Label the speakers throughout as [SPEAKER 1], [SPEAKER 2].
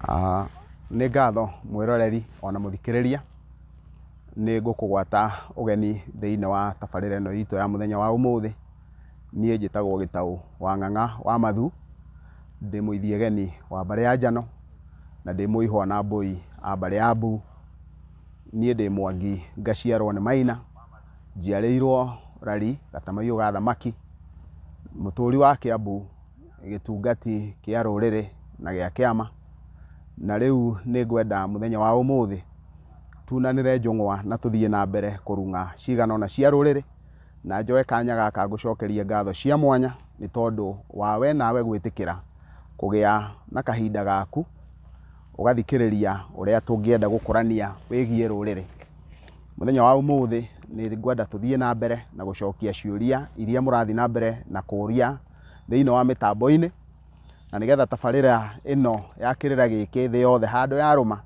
[SPEAKER 1] Ah, nĩ ngatho mwĩroreri ona mũthikĩrĩria nĩ ngũkũgwata ũgeni thĩinĩ wa tabarĩra ĩno itũ ya mũthenya wa ũmũthĩ niĩ njĩtagwo gĩtaũ wa ng'ang'a wa mathu ndĩ mũithiageni wa mbarĩ ya njano na ndĩ mũihwa na mbũi a mbarĩ ya mbu. Niĩ ndĩ Mwangi ngaciarwo nĩ Maina, njiarĩirwo Rari Gatamaiyũ ga thamaki, mũtũri wa Kĩambu, gĩtungati kĩa rũrĩrĩ na gĩa kĩama, na rĩu nĩ ngwenda mũthenya wa ũmũthĩ tunanĩre njũng'wa na tũthiĩ na mbere kũrung'a cigana ũna cia rũrĩrĩ, na njoe kanya gaka ngũcokerie ngatho cia mwanya nĩ tondũ wa we nawe gwĩtĩkĩra kũgĩa na kahinda gaku. ũgathikĩrĩria ũrĩa tũngĩenda gũkũrania wĩgiĩ rũrĩrĩ. Mũthenya wa ũmũthĩ nĩ ngwenda tũthiĩ na mbere na gũcokia ciũria iria mũrathiĩ na mbere na kũria thĩinĩ wa mĩtambo-inĩ, na nĩgetha tabarĩra ĩno ya kĩrĩra gĩkĩ thĩ yothe handũ ya rũma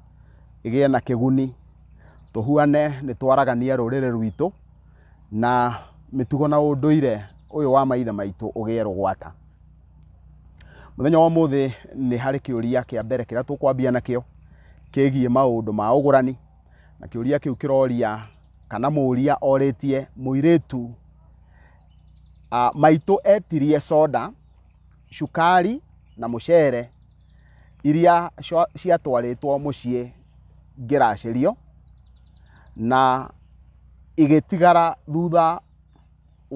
[SPEAKER 1] ĩgĩe na kĩguni. Tũhuane nĩ twaragania rũrĩrĩ rwitũ na mĩtugo na ũndũire ũyũ wa maithe maitũ ũgĩe rũgwata. Mũthenya wa ũmũthĩ nĩ harĩ kĩũria kĩa mbere kĩrĩa tũkwambia nakĩo kĩgiĩ maũndũ ma ũgũrani, na kĩũria kĩu kĩroria kana mũria orĩtie mũirĩtu ah, maitũ etirie soda, cukari na mũcere iria cia- ciatwarĩtwo mũciĩ ngĩracĩrio na igĩtigara thutha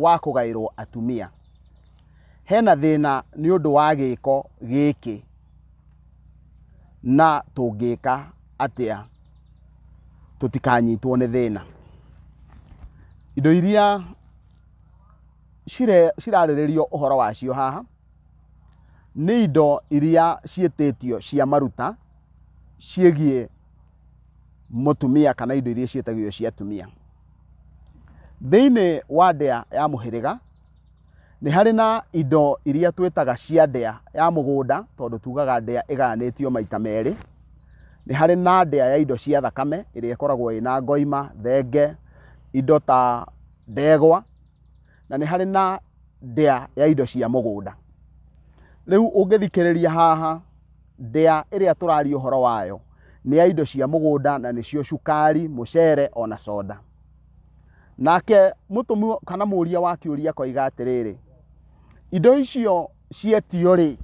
[SPEAKER 1] wa kũgaĩrwo atumia hena thĩna nĩ ũndũ wa gĩko gĩkĩ na tũngĩka atĩa tũtikanyitwo nĩ thĩna indo iria cire- cirarĩrĩrio ũhoro wacio haha nĩ indo iria ciĩtĩtio cia maruta ciĩgiĩ mũtumia kana indo iria ciĩtagio cia atumia thĩinĩ wa ndĩa ya mũhĩrĩga nĩ harĩ na indo iria twĩtaga cia ndĩa ya mũgũnda tondũ tugaga ndĩa ĩgayanĩtio maita merĩ nĩ harĩ na ndĩa ya indo cia thakame ĩrĩa ĩkoragwo ĩna ngoima thenge indo ta ndegwa na nĩ harĩ na ndĩa ya indo cia mũgũnda rĩu ũngĩthikĩrĩria haha Ndĩa ĩrĩa tũraria ũhoro wayo nĩ ya indo cia mũgũnda na nĩcio cukari, mũcere o na soda. Nake mũtũmwo kana mũria wa kĩũria akoiga atĩrĩrĩ, indo icio cietio rĩ,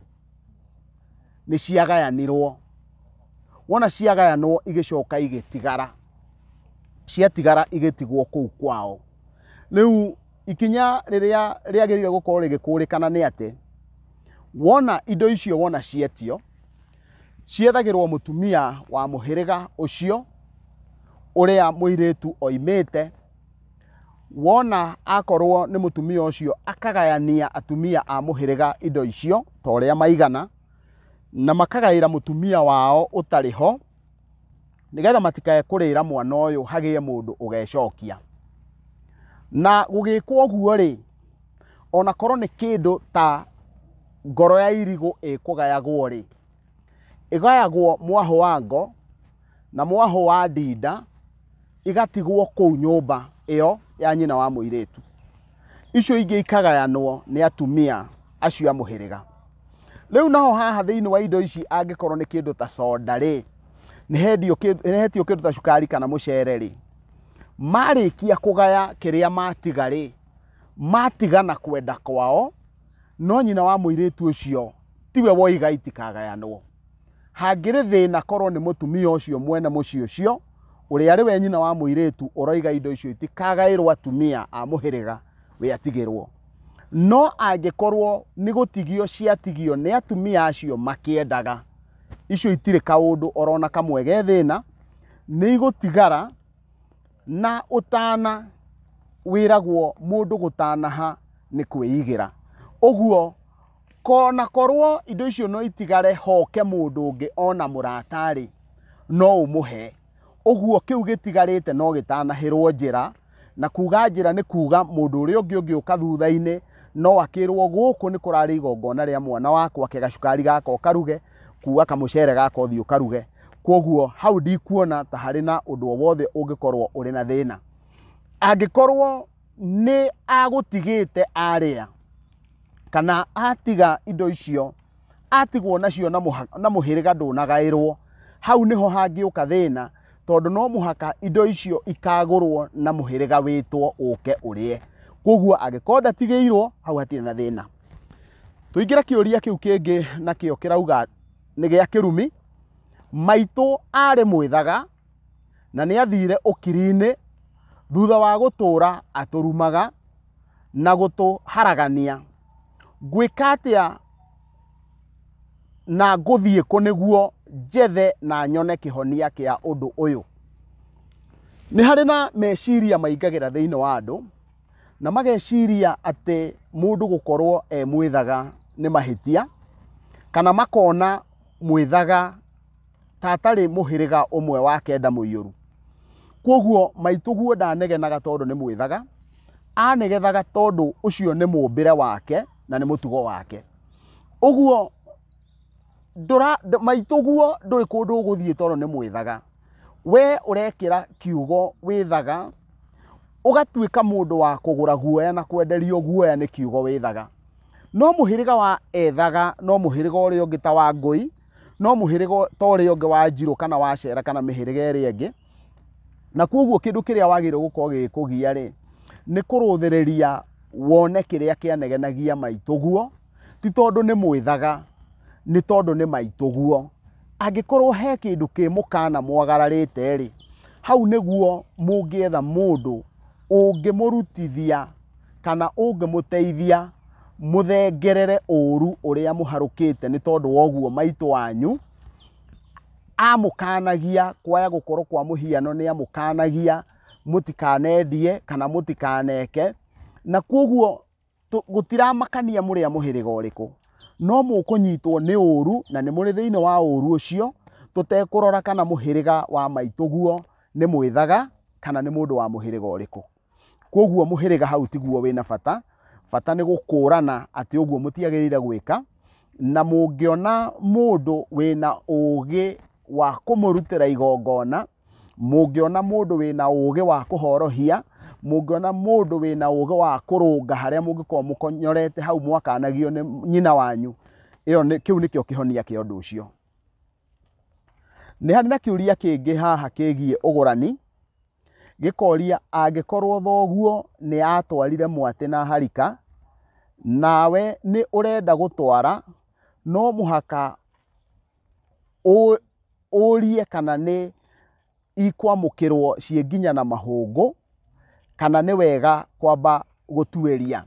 [SPEAKER 1] nĩ ciagayanirwo? Wona ciagayanwo igĩcoka igĩtigara, ciatigara igĩtigwo kũu kwao. Rĩu ikinya rĩrĩa rĩagĩrĩire gũkorwo rĩgĩkũrĩkana nĩ atĩ wona indo icio wona cietio ciethagĩrwo mũtumia wa mũhĩrĩga ũcio ũrĩa mũirĩtu oimĩte wona akorwo nĩ mũtumia ũcio akagayania atumia a mũhĩrĩga indo icio ta ũrĩa maigana na makagaĩra mũtumia wao ũtarĩ ho nĩgetha matikae kũrĩra mwana ũyũ hagĩe mũndũ ũgecokia na gũgĩkwo ũguo rĩ ona korwo nĩ kĩndũ ta ngoro ya irigũ ĩkũgayagwo rĩ ĩgayagwo mwaho wa ngo na mwaho wa ndinda igatigwo kũu nyũmba ĩyo ya nyina wa mũirĩtu icio ingĩ ikagayanwo nĩ atumia acio a mũhĩrĩga rĩu naho haha thĩinĩ wa indo ici angĩkorwo nĩ kĩndũ ta soda rĩ nĩhendio kĩ- nĩhetio kĩndũ ta cukari kana mũcere rĩ marĩkia kũgaya kĩrĩa matiga rĩ matiga na kwenda kwao no nyina wa mũirĩtu ũcio tiwe woiga itikagayanwo Hangĩrĩ thĩna korwo nĩ mũtumia ũcio mwene mũciĩ ũcio ũrĩa arĩ we nyina wa mũirĩtu ũroiga indo icio itikagaĩrwo atumia a mũhĩrĩga we atigĩrwo. No angĩkorwo nĩ gũtigio ciatigio nĩ atumia acio makĩendaga, icio itirĩ kaũndũ orona kamwe ge thĩna, nĩ igũtigara na ũtana wĩragwo mũndũ gũtanaha nĩ kwĩigĩra. Ũguo ko na korwo indo icio no itigare hoke mũndũ ũngĩ ona mũratarĩ no ũmũhe ũguo kĩu gĩtigarĩte no gĩtanahĩrwo njĩra na kuga njĩra nĩ kuga mũndũ ũrĩa ũngĩ ũngĩ ũka thutha-inĩ no akĩrwo gũkũ nĩ kũrarĩ igongona rĩa mwana wakwa ke gacukari gaka ũkaruge kuga kamũcere gaka ũthiĩ ũkaruge kwoguo hau ndikuona ta harĩ na ũndũ o wothe ũngĩkorwo ũrĩ na thĩna angĩkorwo nĩ agũtigĩte arĩa kana atiga indo icio atigwo nacio na mũha- na mũhĩrĩga ndũnagaĩrwo hau nĩho hangĩũka thĩna tondũ no mũhaka indo icio ikagũrwo na mũhĩrĩga wĩtwo ũke ũrĩe koguo angĩkorwo ndatigĩirwo hau hatirĩ na thĩna tũingĩre kĩũria kĩu kĩngĩ nakĩo kĩrauga nĩ gĩa kĩrumi maitũ arĩ mwĩthaga na nĩ athiire ũkiri-inĩ thutha wa gũtũũra atũrumaga na gũtũharagania. Ngwĩka atĩa na ngũthiĩ kũ nĩguo njethe na nyone kĩhonia kĩa ũndũ ũyũ? Nĩ harĩ na meciria maingagĩra thĩinĩ wa andũ na mageciria atĩ mũndũ gũkorwo e mwĩthaga nĩ mahĩtia kana makona mwĩthaga ta atarĩ mũhĩrĩga ũmwe wa kenda mũiyũru kwoguo maitũguo ndanegenaga tondũ nĩ mwĩthaga anegethaga tondũ ũcio nĩ mũmbĩre wake na nĩ mũtugo wake ũguo maitũguo ndũrĩ kũndũ ũgũthiĩ tondũ nĩ mwĩthaga we ũrekĩra kiugo wĩthaga ũgatuĩka mũndũ wa kũgũra guoya na kwenderio guoya nĩ kiugo wĩthaga no mũhĩrĩga wa ethaga no mũhĩrĩga ũrĩa ũngĩ ta wa ngũi no mũhĩrĩga ta ũrĩa ũngĩ wa njirũ kana wa cera kana mĩhĩrĩga ĩrĩa ĩngĩ na kwoguo kĩndũ kĩrĩa wagĩrĩirwo gũkorwo gĩgĩkũgia rĩ nĩ kũrũthĩrĩria wone kĩrĩa kĩanegenagia maitũguo ti tondũ nĩ mwĩthaga nĩ tondũ nĩ maitũguo angĩkorwo he kĩndũ kĩ mũkana mwagararĩte rĩ hau nĩguo mũngĩetha mũndũ ũngĩmũrutithia kana ũngĩmũteithia mũthengerere ũru ũrĩa mũharũkĩte nĩ tondũ wa ũguo maitũ wanyu amũkanagia kwaya gũkorwo kwa mũhiano nĩ amũkanagia mũtikanendie kana mũtikaneke na kwoguo tũ- gũtiramakania mũrĩa mũhĩrĩga ũrĩkũ no mũkũnyitwo nĩ ũũru na nĩ mũrĩ thĩinĩ wa ũũru ũcio tũtekũrora kana mũhĩrĩga wa maitũguo nĩ mwĩthaga kana nĩ mũndũ wa mũhĩrĩga ũrĩkũ kwoguo mũhĩrĩga hau tiguo wĩna bata bata nĩ gũkũrana atĩ ũguo mũtiagĩrĩire gwĩka na mũngĩona mũndũ wĩna ũũgĩ wa kũmũrutĩra igongona mũngĩona mũndũ wĩna ũũgĩ wa kũhorohia mũngĩona mũndũ wĩna ũũgĩ wa kũrũnga harĩa mũngĩkorwo mũkonyorete hau mwakanagio nĩ nyina wanyu ĩyo nĩ- kĩu nĩkĩo kĩhonia kĩa ũndũ ũcio nĩ harĩ na kĩũria kĩngĩ haha kĩgiĩ ũgũrani gĩkoria angĩkorwo thoguo nĩ atwarire mwatĩ na harika nawe nĩ ũrenda gũtwara no mũhaka ũrie kana nĩ ikwamũkĩrwo ciĩ nginya na mahũngũ, kana nĩ wega kwamba gũtuĩria.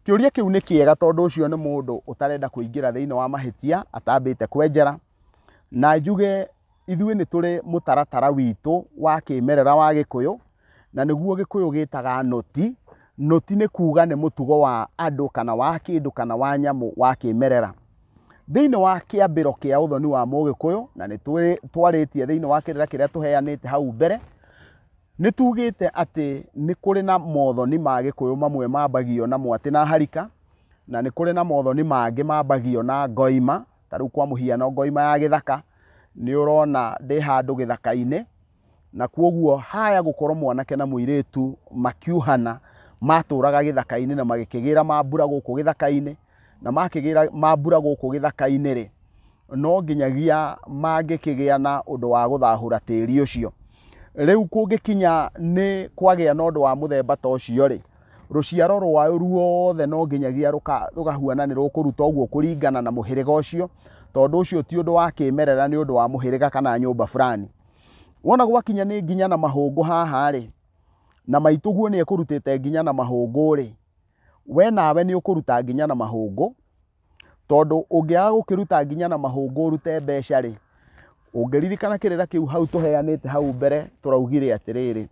[SPEAKER 1] Kĩũria kĩu nĩ kĩega tondũ ũcio nĩ mũndũ ũtarenda kũingĩra thĩinĩ wa mahĩtia atambĩte kwenjera. Na njuge ithuĩ nĩ tũrĩ mũtaratara witũ wa kĩmerera wa Gĩkũyũ, na nĩguo gĩkũyũ gĩtaga noti noti nĩ kuuga nĩ mũtugo wa andũ kana wa kĩndũ kana wa nyamũ wa kĩmerera thĩinĩ wa kĩambĩro kĩa ũthoni wa mũgĩkũyũ na nĩ twarĩtie thĩinĩ wa kĩrĩra kĩrĩa tũheanĩte hau mbere nĩ tugĩte atĩ nĩ kũrĩ na mothoni ma gĩkũyũ mamwe mambagio na mwatĩ na harika na nĩ kũrĩ na mothoni mangĩ mambagio na ngoima ta rĩu kwa mũhiano ngoima ya gĩthaka nĩ ũrona ndĩ handũ gĩthaka-inĩ na kwoguo haya gũkorwo mwanake na mũirĩtu makiuhana matũraga gĩthaka-inĩ na magĩkĩgĩra mambura gũkũ gĩthaka-inĩ na makĩgĩra mambura gũkũ gĩthaka-inĩ rĩ no nginyagia mangĩkĩgĩa na ũndũ wa gũthahũra tĩri ũcio rĩu kũngĩkinya nĩ kwagĩa na ũndũ wa mũthemba ta ũcio rĩ rũciaro rwao ruothe no nginyagia rũka- rũkahuana nĩ rũkũruta ũguo kũringana na mũhĩrĩga ũcio tondũ ũcio ti ũndũ wa kĩmerera nĩ ũndũ wa mũhĩrĩga kana nyũmba fulani wona gwakinya nĩ nginya na mahũngũ haha rĩ na maitũguo nĩ ekũrutĩte nginya na mahũngũ rĩ we nawe nĩ ũkũruta nginya na mahũngũ tondũ ũngĩaga gũkĩruta nginya na mahũngũ ũrute mbeca rĩ ũngĩririkana kĩrĩra kĩu hau tũheanĩte hau mbere tũraugire atĩrĩrĩ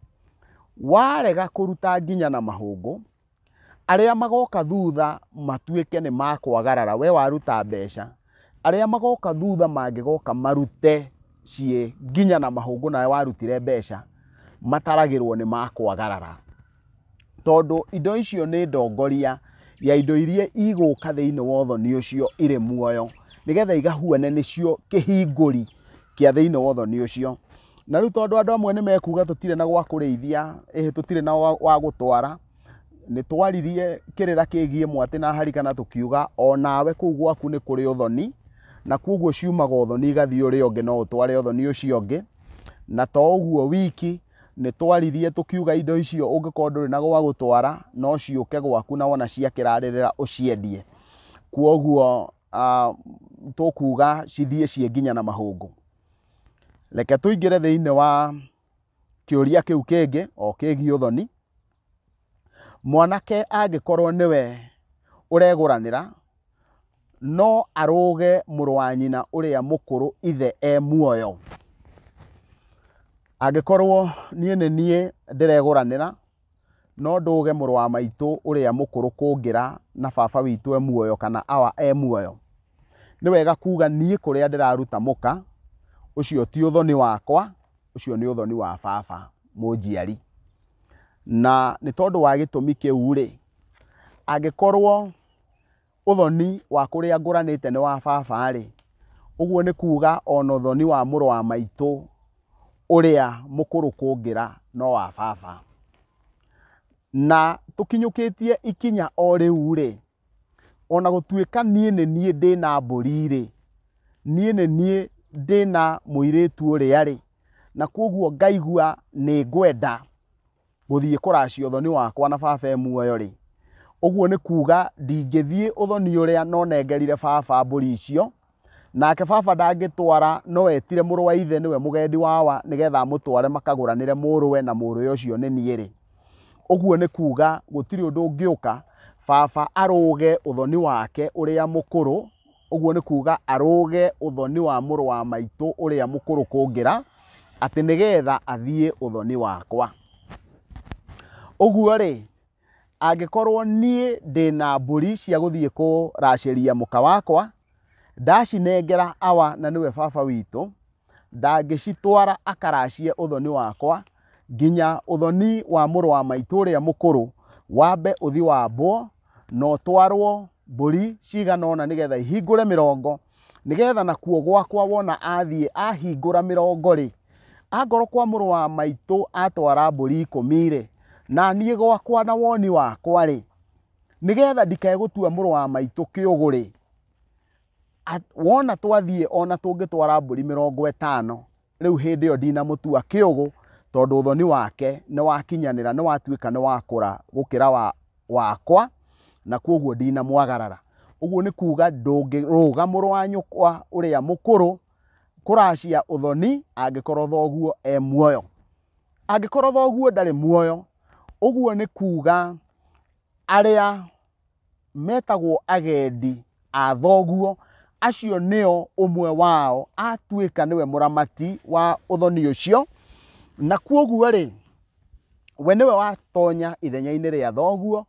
[SPEAKER 1] warega kũruta nginya na mahũngũ Arĩa magoka thutha matuĩke nĩ makwagarara, we waruta mbeca, arĩa magoka thutha mangĩgoka marute ciĩ nginya na mahũngũ nawe warutire mbeca, mataragĩrwo nĩ makwagarara. Tondũ indo icio nĩ ndongoria ya indo iria igũka thĩinĩ wa ũthoni ũcio irĩ muoyo, nĩgetha igahuane nĩcio kĩhingũri kĩa thĩinĩ wa ũthoni ũcio. na rĩu tondũ andũ amwe nĩ mekuga tũtirĩ na gwa kũrĩithia ĩhĩ tũtirĩ na wa wa gũtwara nĩ twaririe kĩrĩra kĩgiĩ mwatĩ na harika na tũkiuga o nawe kũu gwaku nĩ kũrĩ ũthoni na kwoguo ciumaga ũthoni igathiĩ ũrĩa ũngĩ no ũtware ũthoni ũcio ũngĩ na to ũguo wiki nĩ twaririe tũkiuga indo icio ũngĩkorwo ndũrĩ na gwa gũtwara no ciũke gwaku na wona ciakĩrarĩrĩra ũciendie kwoguo ah, tũkuga cithiĩ ciĩ nginya na mahũngũ reke tũingĩre thĩinĩ wa kĩũria kĩu kĩngĩ o kĩgiĩ ũthoni mwanake angĩkorwo nĩwe ũregũranĩra no arũge mũrũ wa nyina ũrĩa mũkũrũ ithe e muoyo angĩkorwo niĩ nĩ niĩ ndĩregũranĩra No ndũũge mũrũ wa maitũ ũrĩa mũkũrũ kũngĩra na baba witũ e muoyo kana awa e muoyo. Nĩ wega kuuga niĩ kũrĩa ndĩraruta mũka, ũcio ti ũthoni wakwa, ũcio nĩ ũthoni wa baba mũnjiari. Na nĩ tondũ wa gĩtũmi kĩu-rĩ, angĩkorwo ũthoni wa kũrĩa ngũranĩte nĩ wa baba-rĩ, ũguo nĩ kuuga o na ũthoni wa mũrũ wa maitũ ũrĩa mũkũrũ kũngĩra no wa baba. Na tũkinyũkĩtie ikinya o rĩu-rĩ, o na gũtuĩka niĩ nĩ niĩ ndĩ na mbũri-rĩ, niĩ nĩ niĩ ndĩ na mũirĩtu ũrĩa-rĩ, na kuoguo ngaigua nĩ ngwenda. gũthiĩ kũracia ũthoni wakwa na baba e muoyo-rĩ, ũguo nĩ kuuga ndingĩthiĩ ũthoni ũrĩa no nengerire baba mbũri icio, nake baba ndangĩtwara no etire mũrũ wa ithe nĩwe mũgendi wawa nĩgetha amũtware makagũranĩre mũrũwe na mũrũwe ũcio nĩ niĩ-rĩ, ũguo nĩ kuuga gũtirĩ ũndũ ũngĩũka baba arũge ũthoni wake ũrĩa mũkũrũ. ũguo nĩ kuuga arũge ũthoni wa mũrũ wa maitũ ũrĩa mũkũrũ kũngĩra, atĩ nĩgetha athiĩ ũthoni wakwa. Ũguo-rĩ, angĩkorwo niĩ ndĩna mbũri cia gũthiĩ kũracĩria mũka wakwa, ndacinengera awa na nĩwe baba witũ, ndangĩcitwara akaracie ũthoni wakwa, nginya ũthoni wa mũrũ wa maitũ ũrĩa mũkũrũ wambe ũthi wambwo, na ũtwarwo mbũri cigana ũna nĩgetha ihingũre mĩrongo nĩgetha nakuo gwakwa wona athiĩ ahingũra mĩrongo-rĩ angorwo kwa mũrũ wa maitũ atwara mbũri ikũmi-rĩ na niĩ gwakwa na woni wakwa-rĩ nĩgetha ndikae gũtua mũrũ wa maitũ kĩũgũ-rĩ, wona twathiĩ ona tũngĩtwara mbũri mĩrongo ĩtano rĩu hĩndĩ ĩyo ndinamũtua kĩũgũ tondũ ũthoni wake nĩ wakinyanĩra nĩ watuĩka nĩ wakũra gũkĩra wa, wakwa na kwoguo ndinamwagarara ũguo nĩ kuuga ndũngĩrũga mũrũ wa nyũkwa ũrĩa mũkũrũ kũracia ũthoni angĩkorwo thoguo e muoyo angĩkorwo thoguo ndarĩ muoyo ũguo nĩ kuuga arĩa metagwo agendi a thoguo acio nĩo ũmwe wao atuĩka nĩwe mũramati wa ũthoni ũcio na kuoguo rĩ we nĩwe watonya ithenya-inĩ rĩa thoguo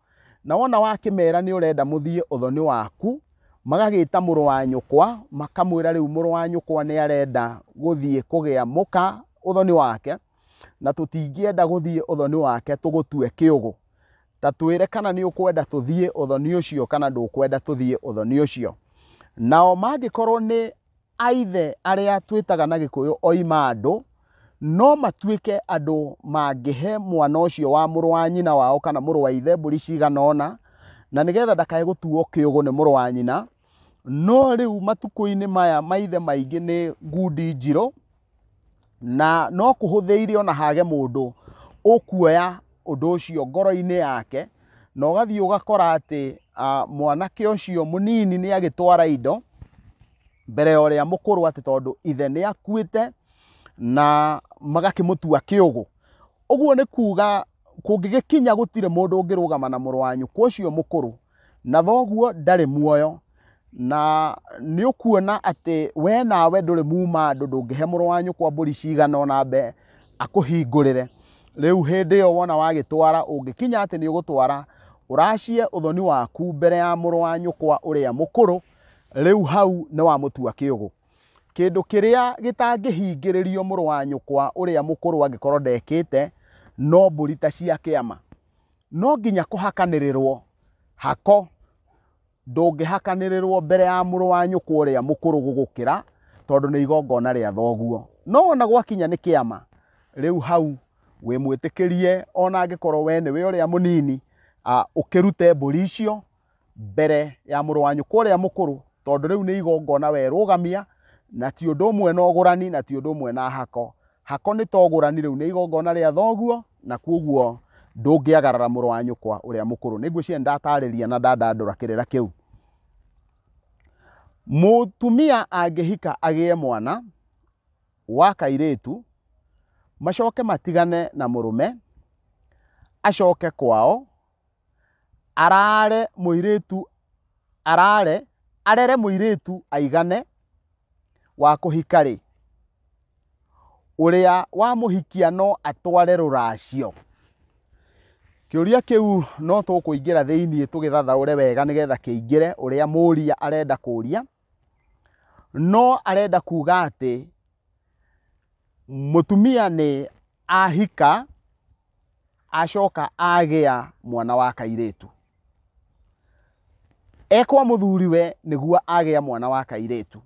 [SPEAKER 1] na wona wakĩmera nĩ ũrenda mũthiĩ ũthoni waku magagĩta mũrũ wa nyũkwa makamwĩra rĩu mũrũ wa nyũkwa nĩ arenda gũthiĩ kũgĩa mũka ũthoni wake na tũtingĩenda gũthiĩ ũthoni wake tũgũtue kĩũgũ ta twĩre kana nĩ ũkwenda tũthiĩ ũthoni ũcio kana ndũkwenda tũthiĩ ũthoni ũcio nao mangĩkorwo nĩ aithe arĩa twĩtaga na gĩkũyũ oima andũ no matuĩke andũ mangĩhe mwana ũcio wa mũrũ wa nyina wao kana mũrũ wa ithe mbũri cigana ũna na nĩgetha ndakae gũtuo kĩũgũ nĩ mũrũ wa nyina no rĩu matukũ-inĩ maya maithe maingĩ nĩ ngundi njirũ na no kũhũthĩire ona hage mũndũ ũkuoya ũndũ ũcio ngoro-inĩ yake na ũgathiĩ ũgakora atĩ ah, mwanake ũcio mũnini nĩ agĩtwara indo mbere ya ũrĩa mũkũrũ atĩ tondũ ithe nĩ akuĩte na magakĩmũtua kĩũgũ ũguo nĩ kuga kũngĩgĩkinya gũtirĩ mũndũ ũngĩrũgama na mũrũ wa nyũkwa ũcio mũkũrũ na thoguo ndarĩ muoyo na nĩ ũkuona atĩ we nawe ndũrĩ muma andũ ndũngĩhe mũrũ wa nyũkwa mbũri cigana ona mbe akũhingũrĩre rĩu hĩndĩ ĩyo wona wagĩtwara ũngĩkinya atĩ nĩ ũgũtwara ũracie ũthoni waku mbere ya mũrũ wa nyũkwa ũrĩa mũkũrũ rĩu hau nĩ wamũtua kĩũgũ kĩndũ kĩrĩa gĩtangĩhingĩrĩrio mũrũ wa nyũkwa ũrĩa mũkũrũ angĩkorwo ndekĩte no mbũri ta cia kĩama no nginya kũhakanĩrĩrwo hako ndũngĩhakanĩrĩrwo mbere ya mũrũ wa nyũkwa ũrĩa mũkũrũ gũgũkĩra tondũ nĩ igongona rĩa thoguo no ona gwakinya nĩ kĩama rĩu hau wĩ mwĩtĩkĩrie ona angĩkorwo we nĩwe ũrĩa mũnini ũkĩrute mbũri icio mbere ya mũrũ wa nyũkwa ũrĩa mũkũrũ tondũ rĩu nĩ igongona werũgamia na ti ũndũ ũmwe na ũgũrani na ti ũndũ ũmwe na hako hako nĩ ta ũgũrani rĩu nĩ igongona rĩa thoguo na kuoguo ndũngĩagarara mũrũ wa nyũkwa ũrĩa mũkũrũ nĩ ngwĩciria ndatarĩria na ndandandũra kĩrĩra kĩu mũtumia angĩhika agĩe mwana wa kairĩtu macoke matigane na mũrũme acoke kwao arare mũirĩtu arare arere mũirĩtu aigane wa kũhika rĩ ũrĩa wa mũhikia no atware rũracio kĩũria kĩu no tũkũingĩra thĩinĩ tũgĩthathaũre wega nĩgetha kĩingĩre ũrĩa mũria arenda kũria no arenda kuga atĩ mũtumia nĩ ahika acoka agĩa mwana wa kairĩtu ekwa mũthuriwe nĩguo agĩa mwana wa kairĩtu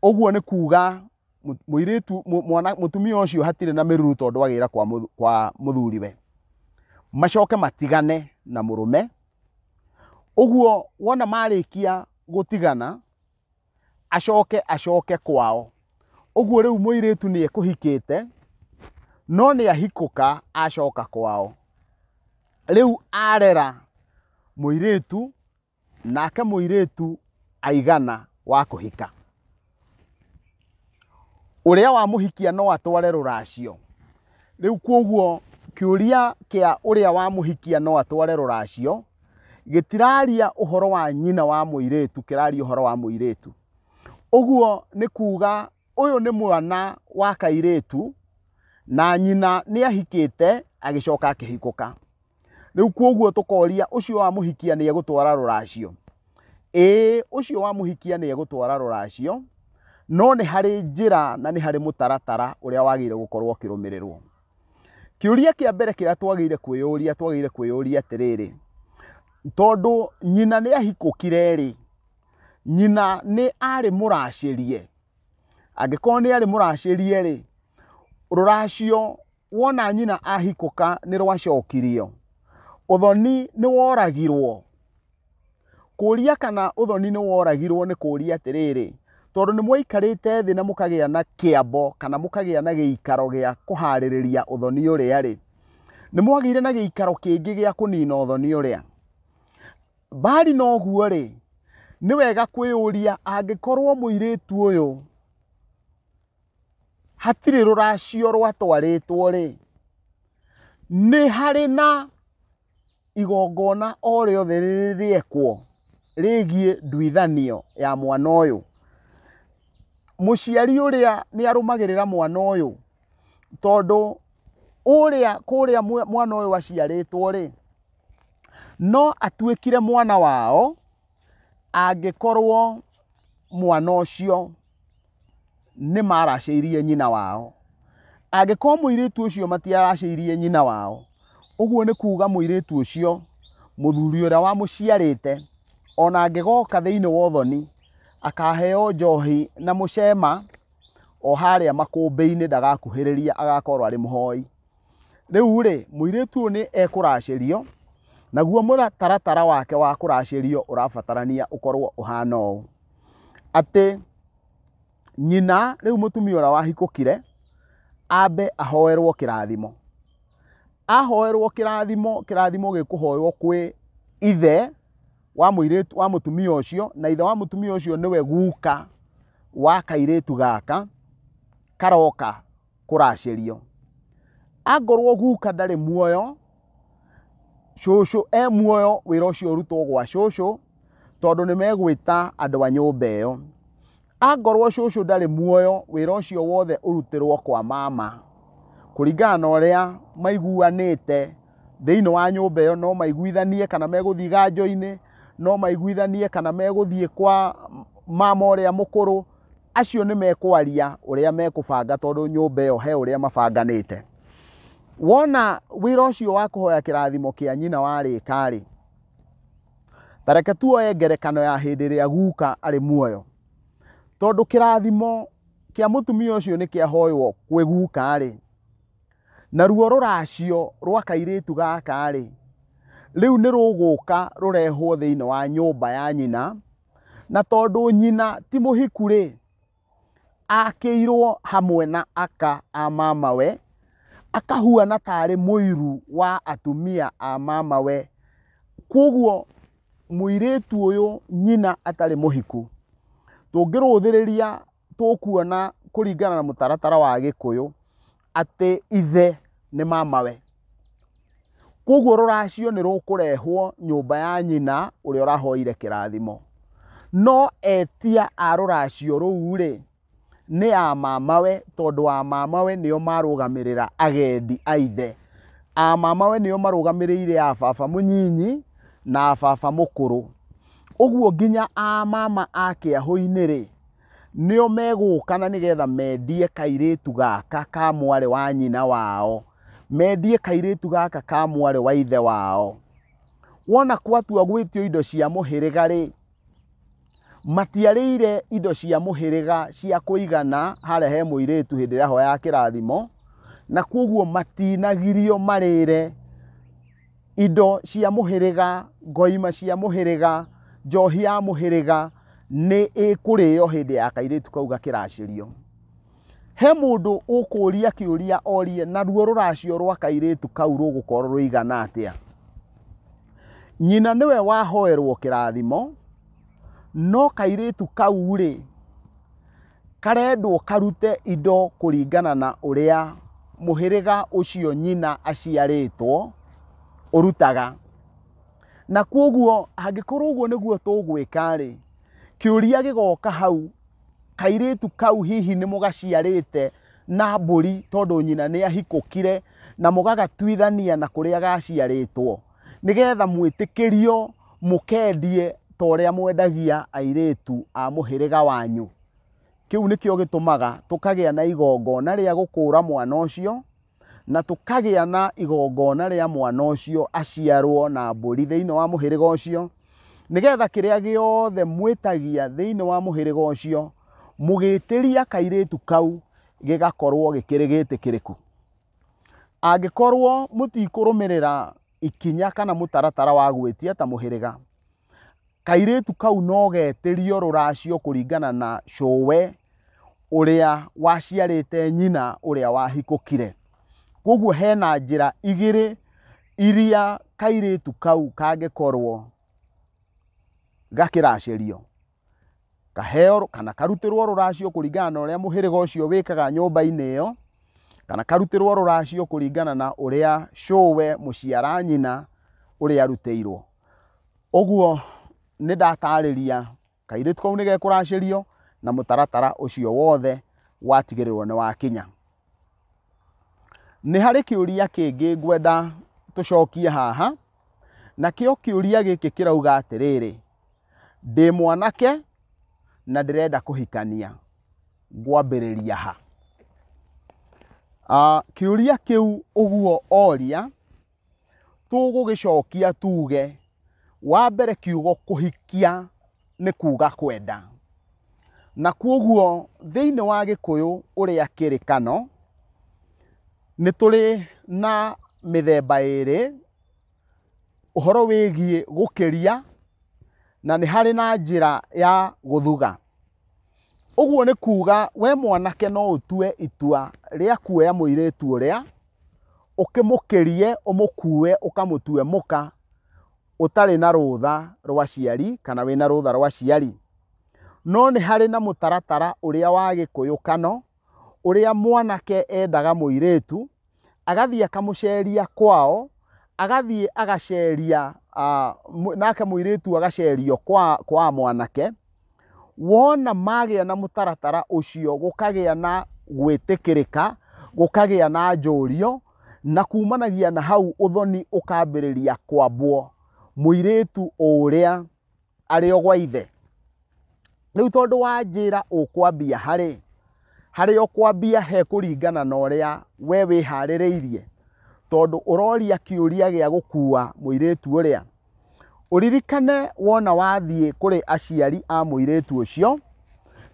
[SPEAKER 1] ũguo nĩ kuga mũ- mũirĩtu mũ- mwana mũtumia ũcio hatirĩ na mĩruru tondũ agĩra kwa mũthu- kwa mũthuriwe macoke matigane na mũrũme ũguo wona marĩkia gũtigana acoke acoke kwao ũguo rĩu mũirĩtu nĩ ekũhikĩte no nĩ ahikũka acoka kwao rĩu arera mũirĩtu nake mũirĩtu aigana wa kũhika ũrĩa wa mũhikia no atware rũracio rĩu kwoguo kĩũria kĩa ũrĩa wa mũhikia no atware rũracio gĩtiraria ũhoro wa nyina wa mũirĩtu kĩraria ũhoro wa mũirĩtu ũguo nĩ kuga ũyũ nĩ mwana wa kairĩtu na nyina nĩ ahikĩte agĩcoka akĩhikũka. rĩu kwoguo tũkoria ũcio wa mũhikia nĩ egũtwara rũracio ĩĩ ũcio wa mũhikia nĩ egũtwara rũracio no nĩ harĩ njĩra na nĩ harĩ mũtaratara ũrĩa wagĩrĩire gũkorwo ũkĩrũmĩrĩrwo kĩũria kĩa mbere kĩrĩa twagĩrĩire kwĩyũria twagĩrĩire kwĩyũria atĩrĩrĩ tondũ nyina nĩ ahikũkire rĩ nyina nĩ arĩ mũracĩrie angĩkorwo nĩ arĩ mũracĩrie rĩ rũracio wona nyina ahikũka nĩ rwacokirio ũthoni nĩ woragirwo kũria kana ũthoni nĩ woragirwo nĩ kũria atĩrĩrĩ tondũ nĩ mwaikarĩte thĩ na mũkagĩa na kĩambo kana mũkagĩa na gĩikaro gĩa kũharĩrĩria ũthoni ũrĩa rĩ nĩ mwagĩire na gĩikaro kĩngĩ gĩa kũnina ũthoni ũrĩa mbari noguo rĩ nĩ wega kwĩyũria angĩkorwo mũirĩtu ũyũ hatirĩ rũracio rwatwarĩtwo rĩ nĩ harĩ na igongona o rĩothe rĩrĩekwo rĩgiĩ nduithanio ya mwana ũyũ mũciari ũrĩa nĩ arũmagĩrĩra mwana ũyũ tondũ ũrĩa kũrĩa mwana ũyũ aciarĩtwo rĩ no atuĩkire mwana wao. angĩkorwo mwana ũcio nĩ maracĩirie nyina wao angĩkorwo mũirĩtu ũcio matiaracĩirie nyina wao ũguo nĩ kuga mũirĩtu ũcio mũthuri ũrĩa wamũciarĩte ona angĩgoka thĩinĩ wa ũthoni akaheo njohi na mũcema o harĩa makũmbĩ-inĩ ndagakuhĩrĩria agakorwo arĩ mũhoi. rĩu rĩ mũirĩtu ũyũ nĩ ekũracĩrio naguo mũtaratara wake wa kũracĩrio ũrabatarania ũkorwo ũhana ũũ atĩ nyina rĩu mũtumia ũrĩa wahikũkire ambe ahoerwo kĩrathimo ahoerwo kĩrathimo kĩrathimo gĩkũhoywo kwĩ ithe wa mũirĩtu wa mũtumia ũcio na ithe wa mũtumia ũcio nĩwe guka wa kairĩtu gaka karoka kũracĩrio angorwo guka ndarĩ muoyo cũcũ e muoyo wĩra ũcio ũrutwo gwa cũcũ tondũ nĩ megwĩta andũ a nyũmba ĩyo angorwo cũcũ ndarĩ muoyo wĩra ũcio wothe ũrutĩrwo kwa mama kũringana na ũrĩa maiguanĩte thĩinĩ wa nyũmba ĩyo no maiguithanie kana megũthiĩ ganjo-inĩ no maiguithanie kana megũthiĩ kwa mama ũrĩa mũkũrũ acio nĩ mekwaria ũrĩa mekũbanga tondũ nyũmba ĩyo he ũrĩa mabanganĩte wona wĩra ũcio wa kũhoya kĩrathimo kĩa nyina warĩka rĩ tareke tuoye ngerekano ya hĩndĩ ĩrĩa guka arĩ muoyo tondũ kĩrathimo kĩa mũtumia ũcio nĩ kĩahoywo kwĩ guka rĩ na ruo rũracio rwa kairĩtu gaka rĩ rĩu nĩ rũgũka rũrehwo thĩinĩ wa nyũmba ya nyina na tondũ nyina ti mũhiku rĩ akĩirwo hamwe na aka a mamawe akahuana tarĩ mũiru wa atumia a mamawe kwoguo mũirĩtu ũyũ nyina atarĩ mũhiku tũngĩrũthĩrĩria tũkuona kũringana na mũtaratara wa gĩkũyũ atĩ ithe nĩ mamawe koguo rũracio nĩ rũkũrehwo nyũmba ya nyina ũrĩa ũrahoire kĩrathimo no etia a rũracio rũu rĩ nĩ a mamawe tondũ a mamawe nĩo marũgamĩrĩra agendi a ithe a mamawe nĩo marũgamĩrĩire a baba mũnyinyi na a baba mũkũrũ ũguo nginya a mama a kĩahũ-inĩ rĩ nĩo megũka na nĩgetha mendie kairĩtu gaka ka mwarĩ wa nyina wao mendie kairĩtu gaka ka mwarĩ wa ithe wao wona kwatua gwĩtio indo cia mũhĩrĩga rĩ matiarĩire indo cia mũhĩrĩga cia kũigana harĩa he mũirĩtu hĩndĩ ĩrĩa hoya ya kĩrathimo na kwoguo matinagirio marĩre indo cia mũhĩrĩga, ngoima cia mũhĩrĩga, njohi ya mũhĩrĩga nĩ ĩkũrĩo hĩndĩ ya kairĩtu kau gakĩracĩrio. He mũndũ ũkũria kĩũria orie naruo rũracio rwa kairĩtu kau rũgũkorwo rũigana atĩa? Nyina nĩwe wahoerwo kĩrathimo, no kairĩtu kau rĩ, Karendwo karute indo kũringana na ũrĩa mũhĩrĩga ũcio nyina aciarĩtwo ũrutaga. Na kwoguo angĩkorwo ũguo nĩguo tũgwĩka-rĩ, kĩũria gĩgoka hau, kairĩtu kau hihi nĩ mũgaciarĩte na mbũri tondũ nyina nĩ ahikũkire na mũgagatuithania na kũrĩa gaciarĩtwo? nĩgetha mwĩtĩkĩrio mũkendie ta ũrĩa mwendagia airĩtu a mũhĩrĩga wanyu kĩu nĩkĩo gĩtũmaga tũkagĩa na igongona rĩa gũkũũra mwana ũcio na tũkagĩa na igongona rĩa mwana ũcio aciarwo na mbũri thĩinĩ wa mũhĩrĩga ũcio nĩgetha kĩrĩa gĩothe mwĩtagia thĩinĩ wa mũhĩrĩga ũcio mũgĩtĩria kairĩtu kau gĩgakorwo gĩkĩrĩ gĩtĩkĩrĩku Angĩkorwo mũtikũrũmĩrĩra ikinya kana mũtaratara wa gwĩtia ta mũhĩrĩga, kairĩtu kau no getĩrio rũracio kũringana na cũwe ũrĩa waciarĩte nyina ũrĩa wahikũkire. Koguo hena njĩra igĩrĩ iria kairĩtu kau kangĩkorwo gakĩracĩrio. kaheo kana karutĩrwo rũracio kũringana na ũrĩa mũhĩrĩga ũcio wĩkaga nyũmba-inĩ ĩyo kana karutĩrwo rũracio kũringana na ũrĩa cũwe mũciara nyina ũrĩa arutĩirwo ũguo nĩ ndatarĩria kairĩtu kau nĩ gekũracĩrio na mũtaratara ũcio wothe watigĩrĩrwo nĩ wakinya. Nĩ harĩ kĩũria kĩngĩ ngwenda tũcokie haha, nakĩo kĩũria gĩkĩ kĩrauga atĩrĩrĩ, ndĩ mwanake na ndĩrenda kũhikania, ngwambĩrĩria ha? Kĩũria kĩu ũguo oria tũgũgĩcokia tuge wa mbere kiugo kũhikia nĩ kuga kwenda na kwoguo thĩinĩ wa gĩkũyũ ũrĩa kĩrĩ kano nĩ tũrĩ na mĩthemba ĩrĩ ũhoro wĩgiĩ gũkĩria na nĩ harĩ na njĩra ya gũthuga ũguo nĩ kuga we mwanake no ũtue itua rĩa kuoya mũirĩtu ũrĩa. ũkĩmũkĩrie ũmũkue ũkamũtue mũka ũtarĩ na rũtha rwa ciari kana wĩna rũtha rwa ciari. No nĩ harĩ na mũtaratara ũrĩa wa gĩkũyũkano ũrĩa mwanake endaga mũirĩtu agathiĩ akamũceria kwao, agathiĩ agaceria nake mũirĩtu agacerio kwa mwanake Wona magĩa na mũtaratara ũcio gũkagĩa na gwĩtĩkĩrĩka, gũkagĩa na njũrio, na kumanagia na hau ũthoni ũkambĩrĩria kwambwo mũirĩtu ũrĩa arĩ o gwa ithe. Rĩu tondũ wanjĩra ũkwambia harĩ, harĩa ũkwambia he kũringana na ũrĩa we wĩharĩrĩirie, tondũ ũroria kĩũria gĩa gũkua mũirĩtu ũrĩa. Ũririkane wona wathiĩ kũrĩ aciari a mũirĩtu ũcio,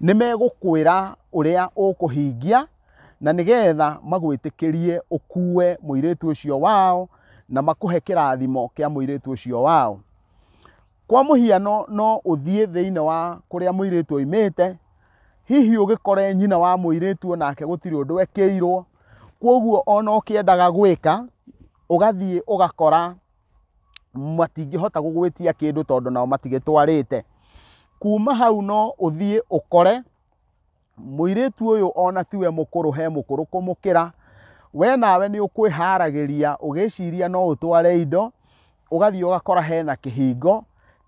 [SPEAKER 1] nĩ megũkwĩra ũrĩa ũkũhingia na nĩgetha magwĩtĩkĩrie ũkuue mũirĩtu ũcio wao na makũhe kĩrathimo kĩa mũirĩtu ũcio wao. Kwa mũhiano no ũthiĩ thĩinĩ wa kũrĩa mũirĩtu oimĩte, hihi ũgĩkore nyina wa mũirĩtu o nake gũtirĩ ũndũ ekĩirwo, kwoguo ona ũkĩendaga gwĩka, ũgathiĩ ũgakora matingĩhota gũgwĩtia kĩndũ tondũ nao matigĩtwarĩte kuma hau no ũthiĩ ũkore mũirĩtu ũyũ ona tiwe mũkũrũ he mũkũrũ kũmũkĩra we nawe nĩ ũkwĩharagĩria ũgĩciria no ũtware indo ũgathiĩ ũgakora hena kĩhingo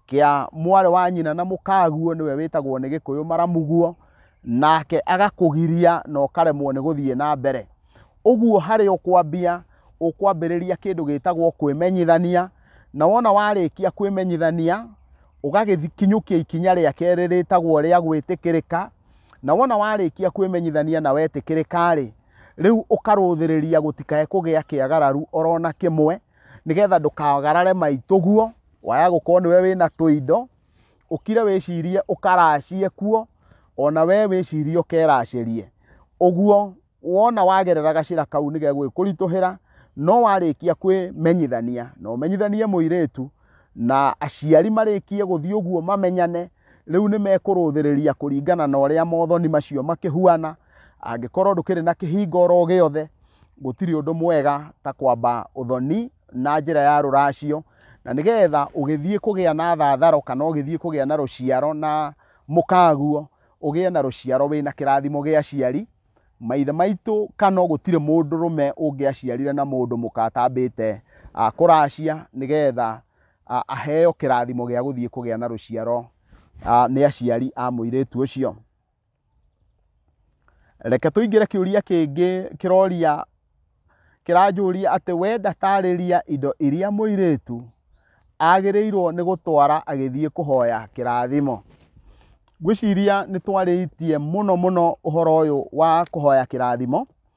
[SPEAKER 1] kĩa mwarĩ wa nyina na mũkaguo nĩwe wĩtagwo nĩ gĩkũyũ maramuguo nake agakũgiria na ũkaremwo nĩ gũthiĩ na mbere ũguo harĩ ũkwambia ũkwambĩrĩria kĩndũ gĩtagwo kwĩmenyithania na wona warĩkia kwĩmenyithania ũgagĩkinyũkia ikinya rĩa kerĩ rĩtagwo rĩa gwĩtĩkĩrĩka na wona warĩkia kwĩmenyithania na wetĩkĩrĩka-rĩ rĩu ũkarũthĩrĩria gũtikae kũgĩa kĩagararu orona kĩmwe nĩgetha ndũkagarare maitũguo waya gũkorwo nĩwe wĩna tũindo ũkire wĩcirie ũkaracie kuo ona we wĩcirie ũkeracĩrie ũguo wona wagerera gacĩra kau nĩ gegwĩkũritũhĩra no warĩkia kwĩmenyithania na ũmenyithanie mũirĩtu na aciari marĩkie gũthiĩ ũguo mamenyane rĩu nĩ mekũrũthĩrĩria kũringana na ũrĩa mothoni macio makĩhuana angĩkorwo ndũkĩrĩ na kĩhinga oro gĩothe gũtirĩ ũndũ mwega ta kwamba ũthoni na njĩra ya rũracio Na nĩ getha ũgĩthiĩ kũgĩa na thatharo kana ũgĩthiĩ kũgĩa na rũciaro na mũkaguo, ũgĩe na rũciaro wĩna kĩrathimo gĩa aciari, maithe maitũ kana gũtirĩ mũndũrũme ũngĩaciarire na mũndũ mũka atambĩte ah, kũracia nĩ getha ah, aheo kĩrathimo gĩa gũthiĩ kũgĩa na rũciaro ah, nĩ aciari a mũirĩtu ũcio. Reke tũingĩre kĩũria kĩngĩ kĩroria kĩranjũria atĩ we ndatarĩria indo iria mũirĩtu agĩrĩirwo nĩ gũtwara agĩthiĩ kũhoya kĩrathimo. Ngwĩciria nĩ twarĩtie mũno mũno ũhoro ũyũ wa kũhoya kĩrathimo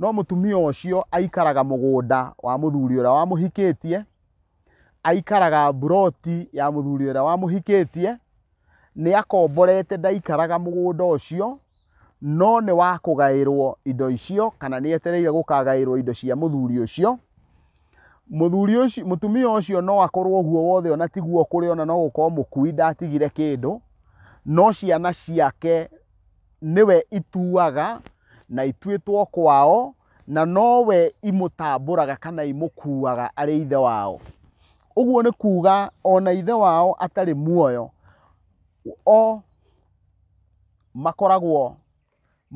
[SPEAKER 1] no mũtumia ũcio aikaraga mũgũnda wa mũthuri ũrĩa wamũhikĩtie aikaraga mburoti ya mũthuri ũrĩa wamũhikĩtie nĩ akomborete ndaikaraga mũgũnda ũcio no nĩ wa kũgaĩrwo indo icio kana nĩ etereire gũkagaĩrwo indo cia mũthuri ũcio mũthuri ũcio mũtumia ũcio no akorwo guo wothe ona tiguo kũrĩ ona no gũkorwo mũkui ndatigire kĩndũ no ciana ciake nĩwe ituaga na ituĩtwo kwao na nowe imũtambũraga kana imũkuaga arĩ ithe wao ũguo nĩ kuuga ona ithe wao atarĩ muoyo o makoragwo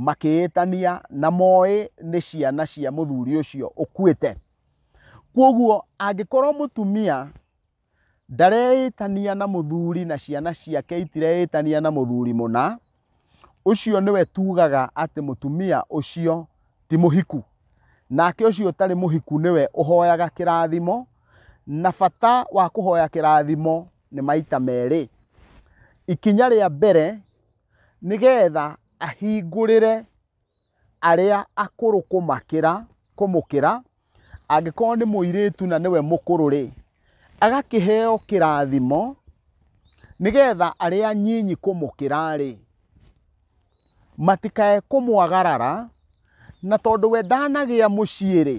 [SPEAKER 1] makĩĩtania na moĩ nĩ ciana cia mũthuri ũcio ũkuĩte kwoguo angĩkorwo mũtumia Ndareĩtania na mũthuri na ciana ciake itireĩtania na mũthuri mũna, ũcio nĩwe tugaga atĩ mũtumia ũcio ti mũhiku. Nake ũcio ũtarĩ mũhiku nĩwe ũhoyaga kĩrathimo, na bata wa kũhoya kĩrathimo nĩ maita merĩ. Ikinya rĩa mbere nĩ getha ahingũrĩre arĩa akũrũ kũmakĩra kũmũkĩra, angĩkorwo nĩ mũirĩtu na nĩwe mũkũrũ-rĩ, agakĩheo kĩrathimo, nĩgetha arĩa anyinyi kũmũkĩra-rĩ, matikae kũmwagarara, na tondũ we ndanagĩa mũciĩ-rĩ,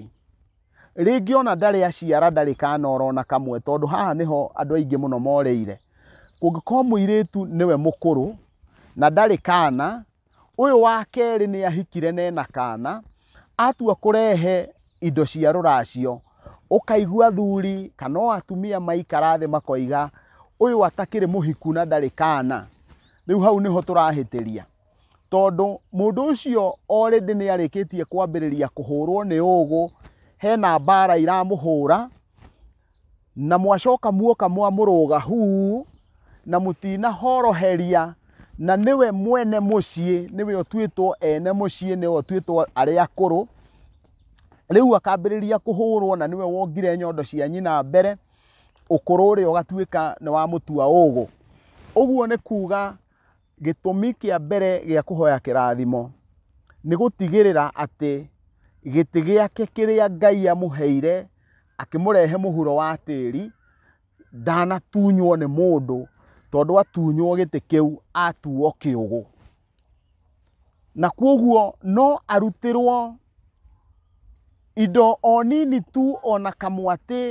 [SPEAKER 1] rĩngĩ ona ndarĩ aciara ndarĩ kana ona kamwe, tondũ haha nĩho andũ aingĩ mũno moreire. Kũngĩkorwo mũirĩtu nĩwe mũkũrũ, na ndarĩ kana, Ũyũ wa kerĩ nĩ ahikire na ena kana, atua kũrehe indo cia rũracio, ũkaigua athuri kana o atumia maikara thĩ makoiga ũyũ atakĩrĩ mũhiku na ndarĩ kana. Rĩu hau nĩho tũrahĩtĩria, tondũ mũndũ ũcio already nĩ arĩkĩtie kwambĩrĩria kũhũrwo nĩ ũgũ, hena mbara iramũhũra, Na mwacoka muoka mwamũrũga huu na mũtina horoheria na nĩwe mwene mũciĩ nĩwe ũtuĩtwo ene mũciĩ nĩwe ũtuĩtwo arĩa akũrũ rĩu akambĩrĩria kũhũrwo na nĩwe wongire nyondo cia nyina mbere ũkũrũ ũrĩa ũgatuĩka nĩ wa mũtua ũgũ ũguo nĩ kuga gĩtũmi kĩa mbere gĩa kũhoya kĩrathimo nĩ gũtigĩrĩra atĩ gĩtĩ gĩake kĩrĩa Ngai amũheire akĩmũrehe mũhuro wa tĩri ndanatunywo nĩ mũndũ tondũ atunywo gĩtĩ kĩu atuo kĩũgũ. Na kwoguo no arutĩrwo indo o nini tu ona kamwatĩ